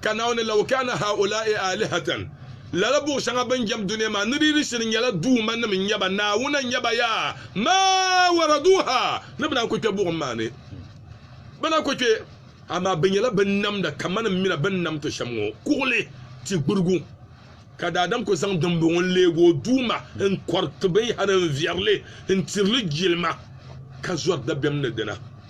Ka Naawuni, Law kaana haulaa'i aalihatan, lala buɣ shɛŋa bɛn jɛm dunia maa ni di yi di shiri nyɛla duumanim n-nyɛ ba, Naawuna n-nyɛ ba yaa, maa waraduuha, ni bɛ naan ku kpe buɣim maa ni, bɛ na ku kpe, amaa bɛ nyɛla bɛn namda kaman m mina bɛn nam ti shɛm ŋɔ, kuɣili, ti gburigu. Ka daadam ku zaŋ dimbɔŋɔ n-leeg o Duuma n-kɔriti binyɛhiri n-viɛri li n-tiri li jilima, ka zɔri dabiɛm ni dina.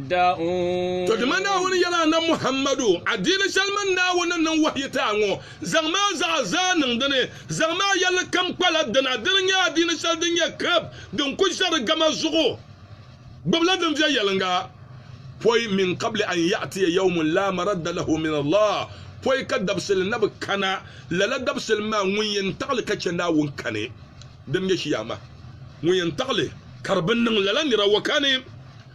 To dima Naawuni yɛl a Annabi Muhammadu, Adiini shɛli mini Naawuni ni niŋ wahiyi ti a ŋɔ, zaŋmi a zuɣu zaa niŋ di ni, zaŋmi a yɛlli kam kpala di na. Dini n-nyɛ adiini shɛli din nyɛ kirib, din ku ʒe di gama zuɣu. Gbibila din viɛnyɛliŋga. Pɔi min qabli an ya'tiya yawmun laa maradda lahu min Allah, pɔi ka dabisili na bi kana, lala dabisili maa ŋun yɛn taɣili ka chɛ Naawuni kani, din nyɛ Chiyaama, ŋun yɛn taɣili ka di bi niŋ lala nira ŋɔ kani.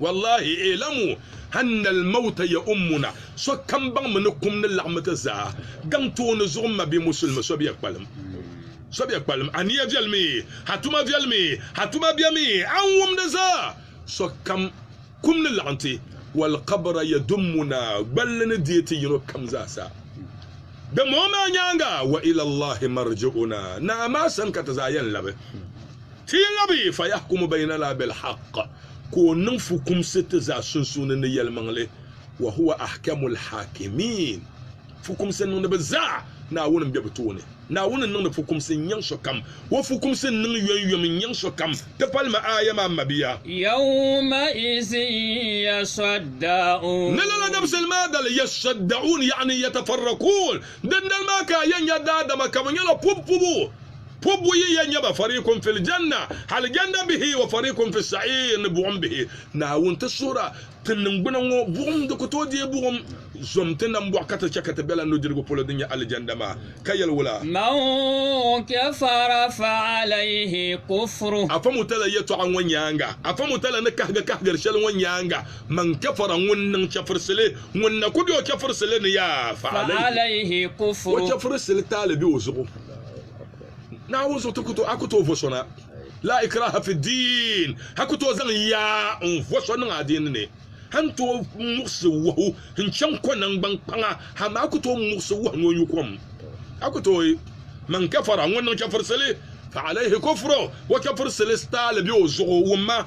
Wallahi, i'lamu anna al-mawta ya'ummuna, sokam baŋmi ni kum ni laɣim ti zaa gaŋ tooni zuɣu m ma bɛ musulimi so bɛ kpalim, so bɛ kpalim, a niya viɛlimi, a tuma viɛlimi, a tuma bɛmi, a ni wum di zaa, sokam kum ni laɣim ti, wal-qabra yadummuna, gballi ni deei ti yino kam zaa sa. Dimbɔŋɔ maa nyaaŋa, wa ila Allahi marji'una, Naa maa sani ka ti zaa yɛn labi. Ti yi labi yi, fayahkumu baynana bilhaq, ka o niŋ fukumsi ti zaa sunsuuni ni yɛlimaŋli, wahuwa ahkamul haakimiin, fukumsi niŋdiba zaa, Naawuni m-be bɛ tooni, Naawuni n-niŋdi fukumsi n-nyaŋ sokam, o fukumsi n-niŋ yomyom n-nyaŋ sokam, ti pali ma aaya maa mabiya. Yawmaizin yasadda'uun. Ni lala dabisili maa dali, yasadda'uun, yaani yatafarrakuun, dindali maa ka a yɛn nya daadama ka bɛ nyɛla pubu pubu. Ko buyi ya nyɛba, fariikun fil janna, alijanna bihi, wa fariikun fis sa'iir ni buɣim bihi. Naawuni ti suhir a, Ti niŋgbuna ŋɔ buɣim di ku tooi deei buɣim, zom ti nambɔɣu ka ti chɛ ka ti be la nudirigu polo din nyɛ alijanna maa, ka yɛli wula? Man kafara fa alayhi kufru. Afa Mutala yɛtɔɣa ŋɔ nyaaŋa, Afa Mutala ni kahigi kahigiri shɛli ŋɔ nyaaŋa, Man kafara ŋun niŋ chɛfirisili, ŋun na ku be o chɛfirisili ni yaa, fa alayhi kufru, o chɛfirisili taali be o zuɣu. Naawuni zuɣu ti a ku tooi vo so na. Laa ikraaha fi ddiin, a ku tooi zaŋ yaa n-vo so niŋ adiini ni. A ni tooi muɣisi wahu n-chaŋ ko naŋgban kpaŋa, amaa a ku tooi muɣisi wahu ni o nyu kom. A ku tooi, Man kafara, ŋun niŋ chɛfurisili, fa alaihi kufruh, o chɛfurisili staali be o zuɣu, wumma.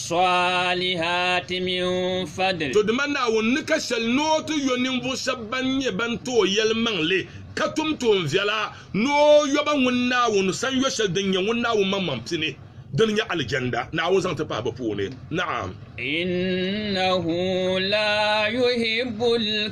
Swalihati min fadli. To dima Naawuni ni ka sheli ni o ti yo ninvuɣu sheba ban nyɛ ban ti o yelimaŋli ka tum tuunviɛla ni o yoba ŋun Naawuni san yo sheli din nyɛ ŋun Naawuni maŋmaŋ pini, dini nyɛ Alijanda, Naawuni zaŋ ti pahi bɛ puuni. Naɣim. Innahu laa yuhibbul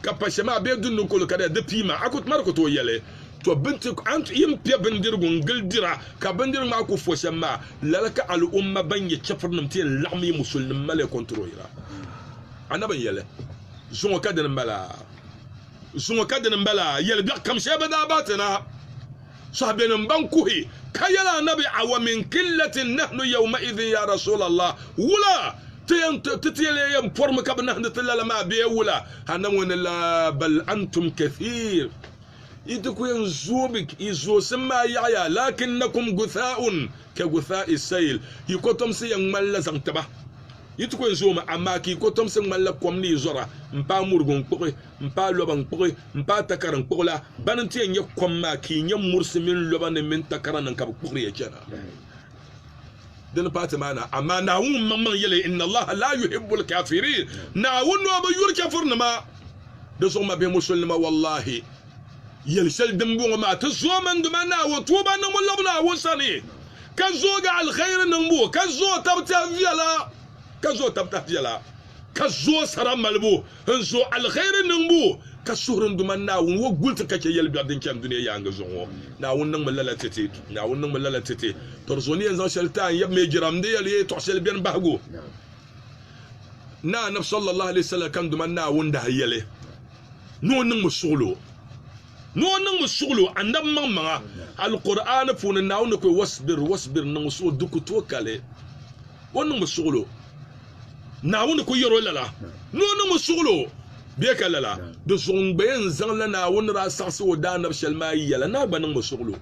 ka pa shɛm a bee dundi kolo ka di di piima, a ku tumar ku tooi yɛli, To bɛ ni ti a ni yi ni piɛ bindirigu n-gili dira ka bindirigu maa ku fo shɛm maa, lala ka al'umma ban nyɛ chɛfurinim ti yɛn laɣim yi musulinim mali kɔntiroyira. Annabi n-yɛli, Zuŋɔ ka dini m-bala, zuŋɔ ka dini m-bala, yɛlibiɛɣu kam shɛli bɛ daa bahi ti na. sɔhibɛnim ban kuhi, ka yɛl Anabi, Awa min qillatin nahnu yawma'idhin ya Rasuulallah, wula ti ti leei yɛn pɔrimi ka bɛ nahindi ti lala maa bee wula? Anabi ŋɔ ni, Laa, bal antum kathiir, yi ti ku yɛn zoogi, yi zoosim maa yaɣiya, laakinnakum guthaa'un ka guthaa'i sayl, yi kɔtomsi yɛn ŋmanila zaŋ taba. Yi ti ku yɛn zoomi, amaa ka yi kɔtomsi ŋmanila kom ni yi zɔra m-paai murigu n-kpuɣi. n paai loba n kpuɣi, n paai takara n kpuɣi la, bana n-ti yɛn nya kom maa ka yi nya murisi mini lobanim mini takaranim ka bɛ kpuɣiri ya chana. Di ni paai ti maa na, amaa Naawuni ŋunmaŋmaŋ yɛli, Inna Allaha laa yuhibbul kaafiriin, Naawuni o bi yuri chɛfurinima. Di zuɣu mabihi musulinima, wallahi, yɛli shɛli dimbɔŋɔ maa, ti zoomi n-di ma Naawuni, tuuba n-niŋ mi labi Naawuni sani, ka zoogi alihɛiri niŋbu, ka zooi tab tɛha viɛla, ka zooi tab tɛha viɛla, ka zooi sara malibu, N zo aliheri niŋbu ka suhuri n Duuma Naawuni ŋɔ guli ti ka chɛ yɛlibiɛɣu din chani dunia yaaŋa zuɣu ŋɔ. Naawuni niŋmi lala tete. Naawuni niŋmi lala tete. Tɔri zo ni yɛn zaŋ shɛli taai n-yab mi jiram, n ni yɛli ya yi tɔɣi shɛli beni bahigu. Naa Anabi sallallahu alaihi wasallam ka n Duuma Naawuni daa yɛli ni o niŋmi suɣulo. Ni o niŋmi suɣilo Annabi maŋmaŋa, Alkur'aani puuni, Naawuni ni ku o, Wasbir, wasbir, niŋmi suɣilo, di ku tookali. O niŋmi suɣilo, Naawuni ni ku yɛr o lala. Ni o niŋmi suɣilo, bee ka lala, di zuɣu n-gbayi n-zaŋla Naawuni ni daa saɣisi o Daanabi shɛli maa yɛla, naa gba niŋmi suɣilo.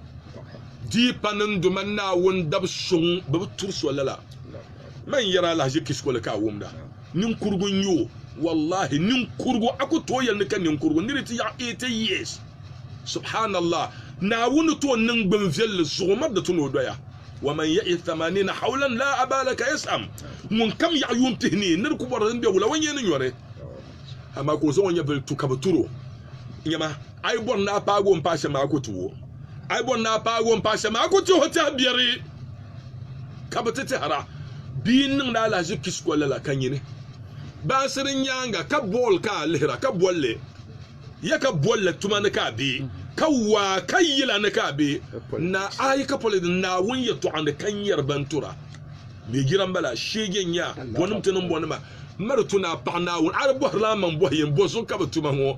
Di pa ni n do man Naawuni dab so ŋun bi bi turi so lala, man yɛra alahichi kisiko li ka a wumda. Ninkurigu n-nyɛ o. Wallahi, ninkurigu! A ku tooi yɛli ni ka ninkurigu n-ni di ti yaɣi eighty years! Subhaanallah! Naawuni ni tooi niŋ gbim viɛlli zuɣu mari di ti ni o doya. Waman ya'ish thamaniina hawlan laa abaala ka yas'am. Ŋunkam yaɣi yuun pihi ni ni di ku bɔri din be wula, o nyɛɛ ni nyɔri. Amaa ka o zaŋ o nyɛvili tu ka bɛ tur o. Nyama! A yi bɔri ni a paagi o m-paai shɛm a ku ti o. A yi bɔri ni a paagi o m-paai shɛm a ku ti o tɛha biɛri ka bɛ ti tɛhira. Bia n-niŋdi alahichi Kisco lala ka nyini baŋsiri nyaaŋa ka bɔɔl ka a lihira ka bolli ya ka bolli tuma ni ka a be ka waa ka yila ni ka a be naa a yi ka politics Naawuni yɛtɔɣa ni ka nyɛri ban tura bɛ jira m-bala sheege n-nyɛ a bɔnim ti niŋ bɔnima mali tu ni a paɣi Naawuni a di bɔhirila a maŋ bɔhi yɛn bɔzuɣu ka bɛ tuma ŋɔ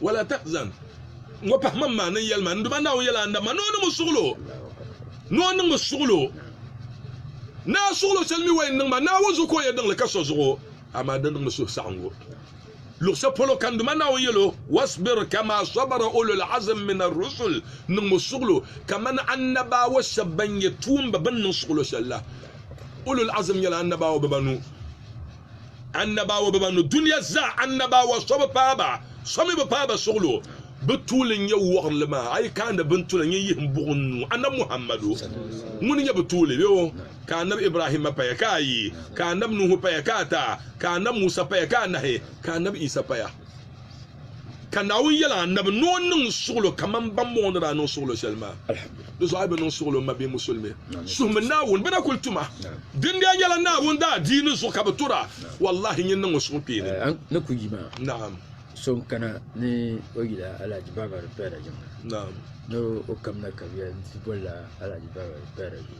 Wala tahzan. Ŋɔ pahi ma m-maani n yɛlima. N Duuma Naawuni yɛla Annabi maa ni o niŋ ma suɣulo, ni o niŋ ma suɣulo. Naa suɣulo shɛli mi o yɛn niŋ ma, Naawuni zuɣu ka o yɛn niŋ li ka so zuɣu, amaa di niŋ mi suhusaɣiŋgu. Luɣ shɛli polo ka N Duuma Naawuni yɛl o, Wasbir kamaa sabara ulul azm min ar-rusul, N niŋ ma suɣulo kamani Annabaawa shɛba ban nyɛ tuumba bɛn niŋ suɣulo shɛli la. Ulul azm nyɛla Annabaawa bibanu. Annabawa biba ni dunia zaa annabawa so bi paai ba, so mi bi paai ba suɣilo. Bɛ tuuli n-nyɛ wɔɣinli maa, a yi kaandi bɛ ni tu la, nyin yihi m-buɣi n nuu. Annabi Muhammadu, ŋuni n-nyɛ bɛ tuuli? Bɛ o, ka Annabi Ibrahimma paya, ka ayi, ka Annabi Nuhu paya, ka ata, ka Annabi Musa paya, ka anahi, ka Annabi Isa paya. Ka Naawuni yɛl a Annabi ni o niŋ suɣilo kaman bɛn bɔŋɔ ni daa niŋ suɣilo shɛli maa. Di zuɣu a yi bi niŋ suɣilo m-ma bee musulimi, suhimi Naawuni, bɛ na kul tum a. Dindia nyɛla Naawuni daadiini zuɣu ka bɛ tor a. Wallahi nyin niŋ o suhukpeeni. A ni ku yi ma? Naam. So n-kana ni o yil a Alhaji Baabari Pɛɛra jiŋli ni o kamina kabiya nti bol la Alhaji Baabari Pɛɛra zuliya.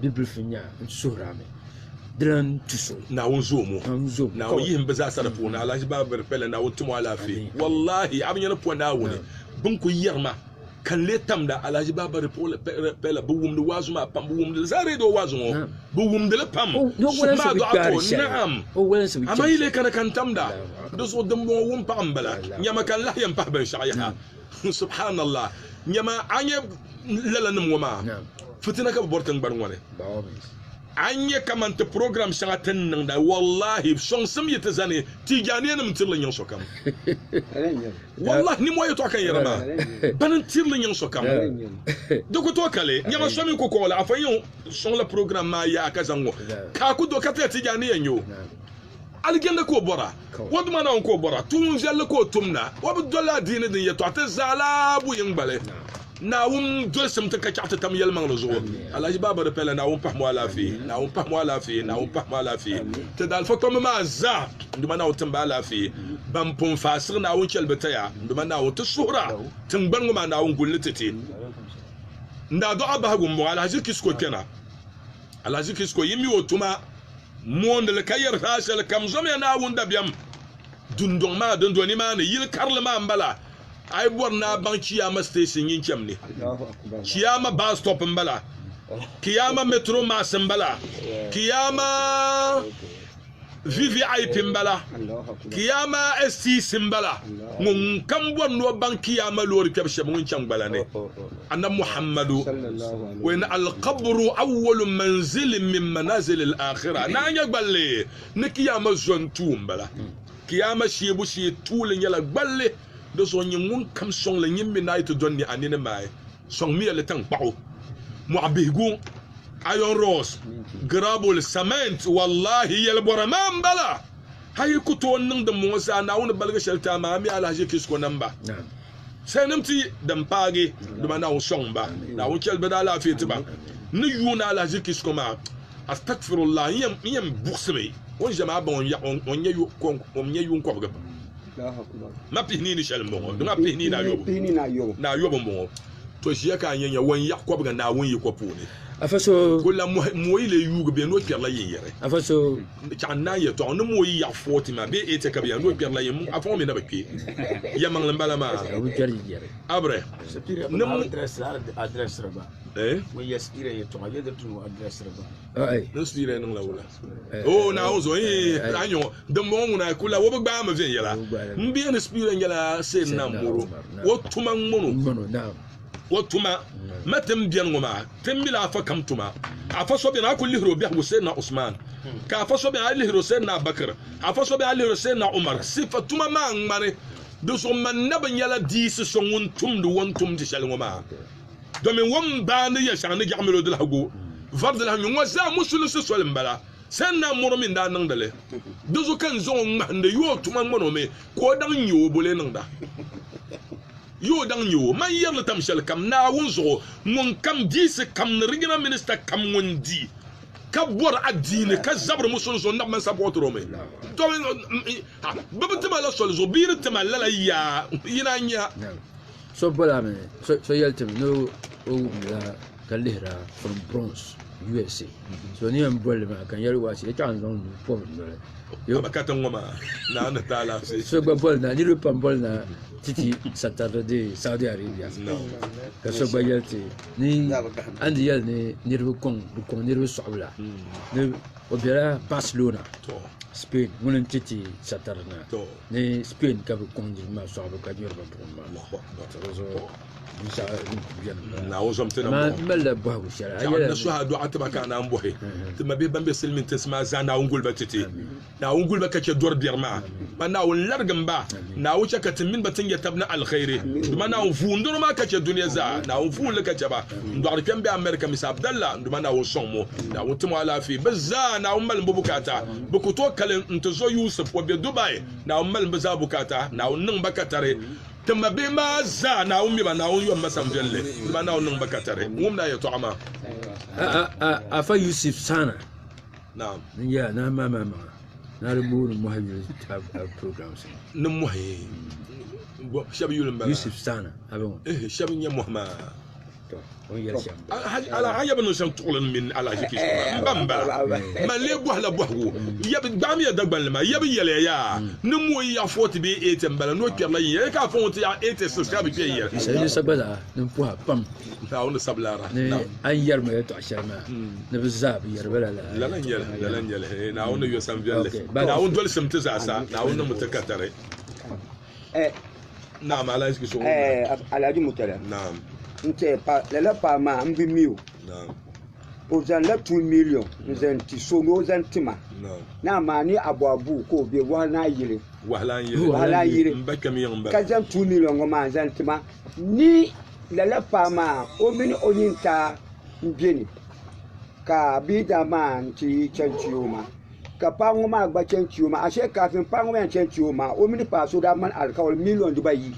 Bibilifu n nya n suhir a mi. Di lan tu so. Naawuni zoom o. Naawuni zoom o. Naawuni yihim bɛ zaasa di puuni. Alahaji Babiri Pɛla, Naawuni tim o alaafee. Wallaahi, a bi nya ni po Naawuni, bɛ ni kul yɛri ma ka n lee tamda. Alahaji Babiri Pɛla, bɛ wumdi waazu maa pam. Bɛ wumdi li zaa reediyo waazu ŋɔ. Bɛ wumdi li pam. Suhu maa dɔɣi a ko, Naam! Amaa yi lee kana ka n tamda? Di zuɣu dimbɔŋɔ wumpaɣu m-bala. Nyama ka n lahi yɛn pahi binshɛɣu yaha. Subhanallah nyama anye lala nim ŋɔ maa fitina ka bi bɔri tingbani ŋɔ ni a nyɛ kaman ti program shɛŋa ti ni niŋda wallahi sɔŋsim yi ti zani tijaaniya nim tirili nyiŋ sokam wallahi nimmɔhi yɛtɔɣa ka n yɛra maa bani n tirili nyiŋ sokam di ku tooi kali nyɛma so mi ku kɔɣila afa yɛn sɔŋla program maa yaha ka zaŋ ŋɔ ka a ku do ka ti la tijaaniya nyɛ o Alijɛnli ka o bɔra o duma Naawuni ka o bɔra tuun viɛlli ka o tumda o bi doli adiini din yɛtɔɣa ti zaala bu yiŋgbali Naawuni dolisim ti ka chɛɣu ti tam yɛlimaŋli zuɣu Alhaji Baaba di pɛla Naawuni pahim o alaafee Naawuni pahim o alaafee Naawuni pahim o alaafee ti daalifa kpamba maa zaa n duma Naawuni timba alaafee ban pun faasigi Naawuni chɛli bi taya n duma Naawuni ti suhira tiŋgbani ŋɔ maa Naawuni gulli ti ti n daadɔɣa bahigu m bɔŋɔ Alhaji Kisco kpɛna Alahaji Kisco yi mi o tuma mooni li ka yɛri zaa shɛli kam zɔmiya Naawuni dabiɛm dundɔŋ maa din do nimaani yili karili maa m-bala a yi bɔri ni a baŋ Chiyaama siteeshin Yinchem ni. Chiyaama baa sitɔp m-bala. Kiyaama metro maasi m-bala. Kiyaama VVIP m-bala, Kiyaama STC m-bala, ŋun kam bɔri ni o baŋ Kiyaama loori kpɛbu shɛba ŋun chaŋ gbala ni, Annabi Muhammadu, o yɛn Al-Qabru awwalu manzilin min manazili Al-Akhira, Naa nya gballi ni Kiyaama zo n-tuui m-bala. Kiyaama shihibu shee tuuli nyɛla gballi, di zuɣu n-nyɛ ŋun kam sɔŋ li nyimmi naai ti do n-ni a nini maai. Sɔŋmiya li tankpaɣu, mɔɣu bihigu, iron rods, gravel, cement, wallahi yɛlibɔra maa m-bala. A yi ku tooi niŋ dimbɔŋɔ zaa, Naawuni baligi shɛli ti a maa, a mi alahaji ki suko nam ba. Salinim ti din paagi, dama Naawuni sɔŋ ba. Naawuni chɛli bɛ ni alaafee ti ba. N ni yuuni alahaji ki suko maa, Astagfirullah, n yɛn buɣisimi o ni ʒiya maa baŋ o n-yaɣi o n-nyɛ yuun kɔbigi. ma pihi nii ni shɛli n bɔŋɔ dima pihi nii ni ayobu n bɔŋɔ to ʒiya ka a nyɛ nyɛ wɔn yaɣ kɔbiga naawuni yiko puuni ko la mɔyi lee yuugi bee ni o kpɛrila yin yɛri chaɣan naan yɛtɔɣa ni mɔyi yaɣ fɔɔti maa bee eete ka bɛ yɛri ni o kpɛrila yin afɔŋɔ mi na bi kpɛ yɛmaŋli n bala maa abirɛ n spiira niŋla wula Oh, Naawuni zo yi a nyɔŋɔ dimbɔŋɔ ŋuna a kula o bi gbaai mi viɛnyɛla n bɛ ni spiira nyɛla seen na mɔro o tuma n ŋɔno o tuma ma tin biɛni ŋɔ maa tin mila afa kam tuma afa so biɛni a ku lihiri o biɛhigu seen na Usman ka afa so biɛni a lihiri o seen na Abubakar afa so biɛni a lihiri o seen na Umar sifa tuma maa ŋmani di zuɣu man nabi nyɛla diisi so ŋun tumdi wɔn tumdi shɛli ŋɔ maa domin wum baa ni yɛl shɛŋa ni jɛɣi mil o dilahigu vari dilahi nyu ŋɔ zaa musulinsi soli m-bala. Sen Naa Moro mi n-daa niŋdi li. Di zuɣu ka n zaŋ o ŋmahindi yo o tuma ŋman o mi ka o daŋ nya o boli yi niŋda yo o daŋ nya o. Man yɛri li tam shɛlikam Naawuni zuɣu ŋunkam diisi kam ni Regional Minister kam ŋun di ka bɔri adiini ka zabiri musulinsi zuɣu n na bi mani sapɔtiri o mi domin bɛ bi ti ma la soli zuɣu bee di ti ma lala yaa yi naan nya So bɔla mi so yɛli ti mi ni o wumdila ka lihira from Bronx USA so ni yɛn bɔli maa ka n yɛli waasi yɛtɔɣa n zaŋ nuu pɔbi n noli abakata ŋɔ maa naa ni taa laafee so gba bɔli na niriba pam bɔli na titi satardi dee Saudi Arabia ka so gba yɛli ti ni an di yɛli ni niriba kɔŋ bi kɔŋ niriba sɔɣibila ni o bɛla Barcelona Spain ŋuni n titi satardi na ni spain ka bi kɔŋ niriba maa sɔɣibu ka nyuri ba buɣim maa naawuni zom ti nimaa n malila bɔhigu shɛli a yɛla suha dɔɣa ti ba ka naan bɔhi ti ma bɛ ban bɛ silimiin tinsi maa zaa naawuni guliba ti ti naawuni guliba ka chɛ dɔri biɛri maa ba naawuni larigim ba naawuni chɛ ka ti mini ba ti nyɛ tabi ni alkhairi duma naawuni vuun dɔro maa ka chɛ duniya zaa naawuni vuun li ka chɛ ba n dɔɣiri kpɛm bɛ amɛrika misa abdalla duma naawuni sɔŋ mo naawuni ti mo alaafee bi zaa naawuni mali bo bukaata Bɛ ku tooi kalim nti zo Yusuf o be Dubai, Naawuni malim bɛ zaa bukaata, Naawuni niŋ ba katari. Ti mabihi maa zaa Naawuni mi ba, Naawuni yom ma samviɛlli, dama Naawuni niŋ ba katari. Ŋun daa yɛtɔɣa maa. Afa Yusuf Saana n-nyɛ a nahi maamaŋ maŋa ni a di booni mɔhi yuli programs ŋɔ. Ni mɔhi shɛba yuli m-bala. Yusuf Saana. Shɛba n-nyɛ mɔhi maa. Alahaji ya bi niŋ shɛm tuɣili mini alahaji kish n ba n bala man lee bɔhila bɔhigu gbaami ya dagbanli maa ya bi yɛliya yaa ni mo yi yaɣa fɔti bee eeti n bala ni o kpɛrila yin yɛli ka afa ŋɔ ti yaɣa eeti six ka bi kpɛ yin yɛli shɛli sa gba zaa din pɔha pam o ni sabi lara ni an yɛri mi ya tɔɣa shɛli maa ni bi zaa bi yɛri bala la lala n yɛli lala n yɛli naawuni yɔ san viɛlli naawuni dolisim ti zaa sa naawuni ni mu ti katari Eh, Naam, Alhaji Kiso. eh, Ab- Alhaji Mutala. Naam, Nti pa lala paɣa maa m bi mi o. naam, O zaŋla two million n zaŋ ti so ni o zaŋ ti ma. naam. Ni amaa ni abu abu ka o be wahalana yili. Wahala n yili. Wahala n yili. N ba kpɛm yiŋ ba. Ka zaŋ two million ŋɔ maa n zaŋ ti ma. Ni lala paɣa maa o mini o yintaa m be ni. Ka bia daa maa n ti chani ti o ma. Ka paɣa ŋɔ maa gba chɛn ti o maa. Ashe kafin paɣa ŋɔ maa chɛn ti o maa, o mini paɣa so daa mali alikauli miliyon dibayi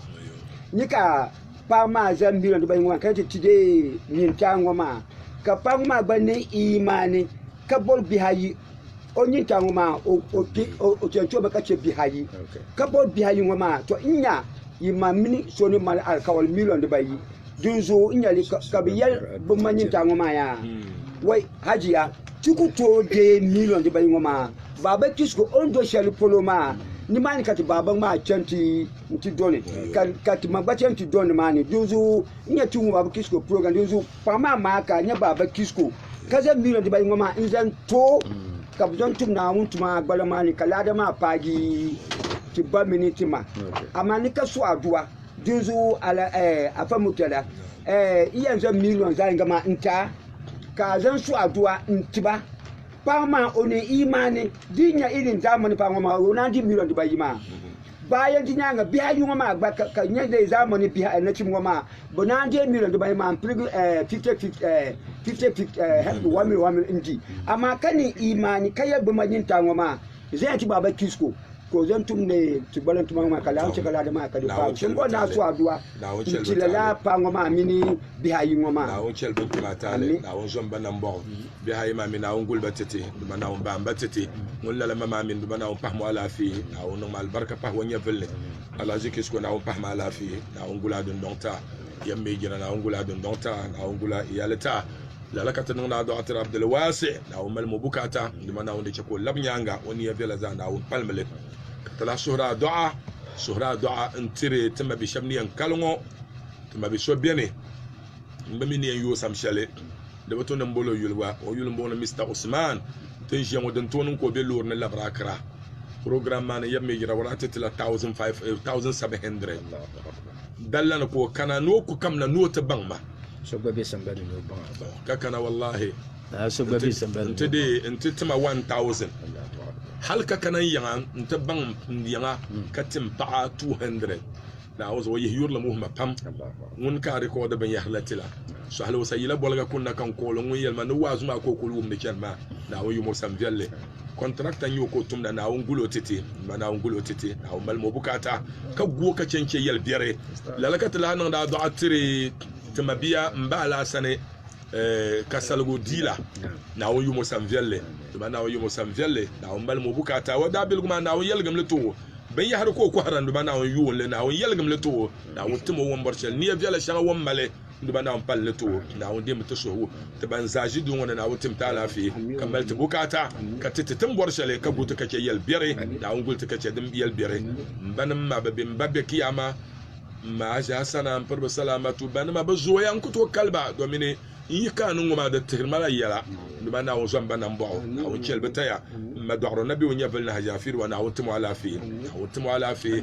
ni ka paɣa maa zaŋ miliyon dibayi ŋɔ maa kana ti ti deei nyintaa ŋɔ maa. Ka paɣa ŋɔ maa gba niŋ iimaani ka bɔri bihi ayi. O nyintaa ŋɔ maa, o, o kpe, o, o chɛn ti o mi ka chɛ bihi ayi. Ka bɔri bihi ayi ŋɔ maa, tɔ, n nya yi ma mini so ni mali alikauli miliyon dibayi. Dinzuɣu n nya li ka, ka bɛ yɛli bɛ ma nyintaa ŋɔ maa yaa, Wai, Hajiya, Ti ku tooi deei miliyon dibaa ŋɔ maa baaba Kisco o ni do shɛli polo maa. Nimaani ka ti baaba maa chani ti nti do ni ka ti ma gba chani ti do nimaani. Dinzuɣu n nya ti ŋɔ baaba Kisco program dinzuɣu paɣa maa maa ka a nya baaba Kisco ka zaŋ miliyon dibaa ŋɔ maa n zaŋ to ka bɛ zaŋ tum Naawuni tuma gbaliŋ maa ni ka laada maa paagi ti ba mini ti ma. Amaa ni ka suhi a duwa. Dinzuɣu Afa Murtala, n yɛn zaŋ miliyon zaɣ'yiŋga maa n ti a. ka a zaŋ su adua n-ti ba. Paɣa maa o niŋ iimaani di nya i din daa mini paɣa ŋɔ maa o naan di miliyon dibayi maa. Bɛ a yɛn ti nyaaŋa bihi ayi ŋɔ maa gba ka nya di zaa mini bihi a nachimba ŋɔ maa bɛ naan deei miliyon dibayi maa m-piligi ɛɛh fifti fifti ɛɛh fifti fifti ɛɛh one million one million n-di. Amaa ka niŋ iimaani ka yɛli bɛ maʒinitali ŋɔ maa Zaya ti baaba Kisco ka o zaŋ tumdi ti gbalim tuma ŋɔ ka lahi chɛ ka laadi maa ka di paai. Tiŋkɔɔ naa su adua n-ti lala paɣa ŋɔ maa mini bihi ayi ŋɔ maa. Naawuni chɛli ba tuma taali, Naawuni zom ba nambɔɣu, bihi ayi maa mi Naawuni guli ba tɛte, di ba Naawuni baam ba tɛte, ŋun lala ma maa mi di ba Naawuni pahim o alaafee, Naawuni niŋm alibarika pah o nyɛvili ni, Alhaji Kisco Naawuni pahim a alaafee, Naawuni gul a dundɔŋ taa. yɛm mi jina Naawuni gula dundɔŋ ta Naawuni gula iyali ta lala ka ti niŋdi a dɔɣitira Abdulwaasi Naawuni mali mo bukaata dima Naawuni di chɛ ka o labi nyaaŋa o niya viɛla zaa Naawuni palimi li ka ti lahi suhiri a dɔɣa suhiri a dɔɣa n-tiri ti ma bi shɛba ni yɛn kali ŋɔ ti ma bi so beni n bi mi ni yɛn yooi sam shɛli di bi to ni m-bol o yuli gba o yuli m-bɔŋɔ ni Mr Usman ti ni ʒiya ŋɔ din tooi niŋ ka o be loori ni labiri Akira program maa ni yɛm mi jira wara ti ti la thousand five eh, thousand seven hundred dalla ni ka o kana ni o ku kamina ni o ti baŋ ma so gba be sambani ni o baŋ a bala ka kana wallahi na so gba be sambani nti de nti tima 1000 hal ka kana n yaŋa nti baŋ n yaŋa hmm. ka tim paɣa 200 na o zuɣu yihi yurili muhima pam ŋun ka rikɔdi binyɛhiri la tila so hali o sayila boliga kunna kan kooli ŋun yɛlima ni waazu maa ka o kuli wumdi chɛni maa na o yumo san viɛlli Kɔntirakta n-nyɛ o ka o tumda Naawuni gul o titi, m-ma Naawuni gul o titi, Naawuni mali m o bukaata ka gu o ka chɛ n-chɛ yɛli biɛri. Lala ka ti lahi niŋdi adɔɣa tiri ti mabia m ba Alaa sani ka saligu di la Naawuni yum o san viɛlli, dama Naawuni yum o san viɛlli, Naawuni mali m o bukaata. O daabiligu maa, Naawuni yɛligim li ti o, binyɛhiri ka o kɔhira n-duma Naawuni yuun li, Naawuni yɛligim li ti o, Naawuni tim o wɔmbɔri shɛli nia viɛla shɛŋa o ni mali. Di ba Naawuni palli ni ti o Naawuni deemi ti suhigu ti ban zaa ʒi duu ŋɔ ni Naawuni tim ti alaafee ka mali ti bukaata ka ti ti ti ni bɔri shɛli ka guli ti ka chɛ yɛli biɛri Naawuni guli ti ka chɛ din yɛli biɛri M banim ma bɛ bɛn ba be Kiyaama maa zaa sana m piri ba salaamatu banima bɛ zooya n ku tooi kali ba domini n yi ka ni ŋɔ maa di tihiri ma la yɛla M ba Naawuni zɔn ba nambɔɣu Naawuni chɛli bɛ taya M ma dɔɣiro Nabiu Nyɛvili ni Hajiya Firuwa Naawuni tim o alaafee Naawuni tim o alaafee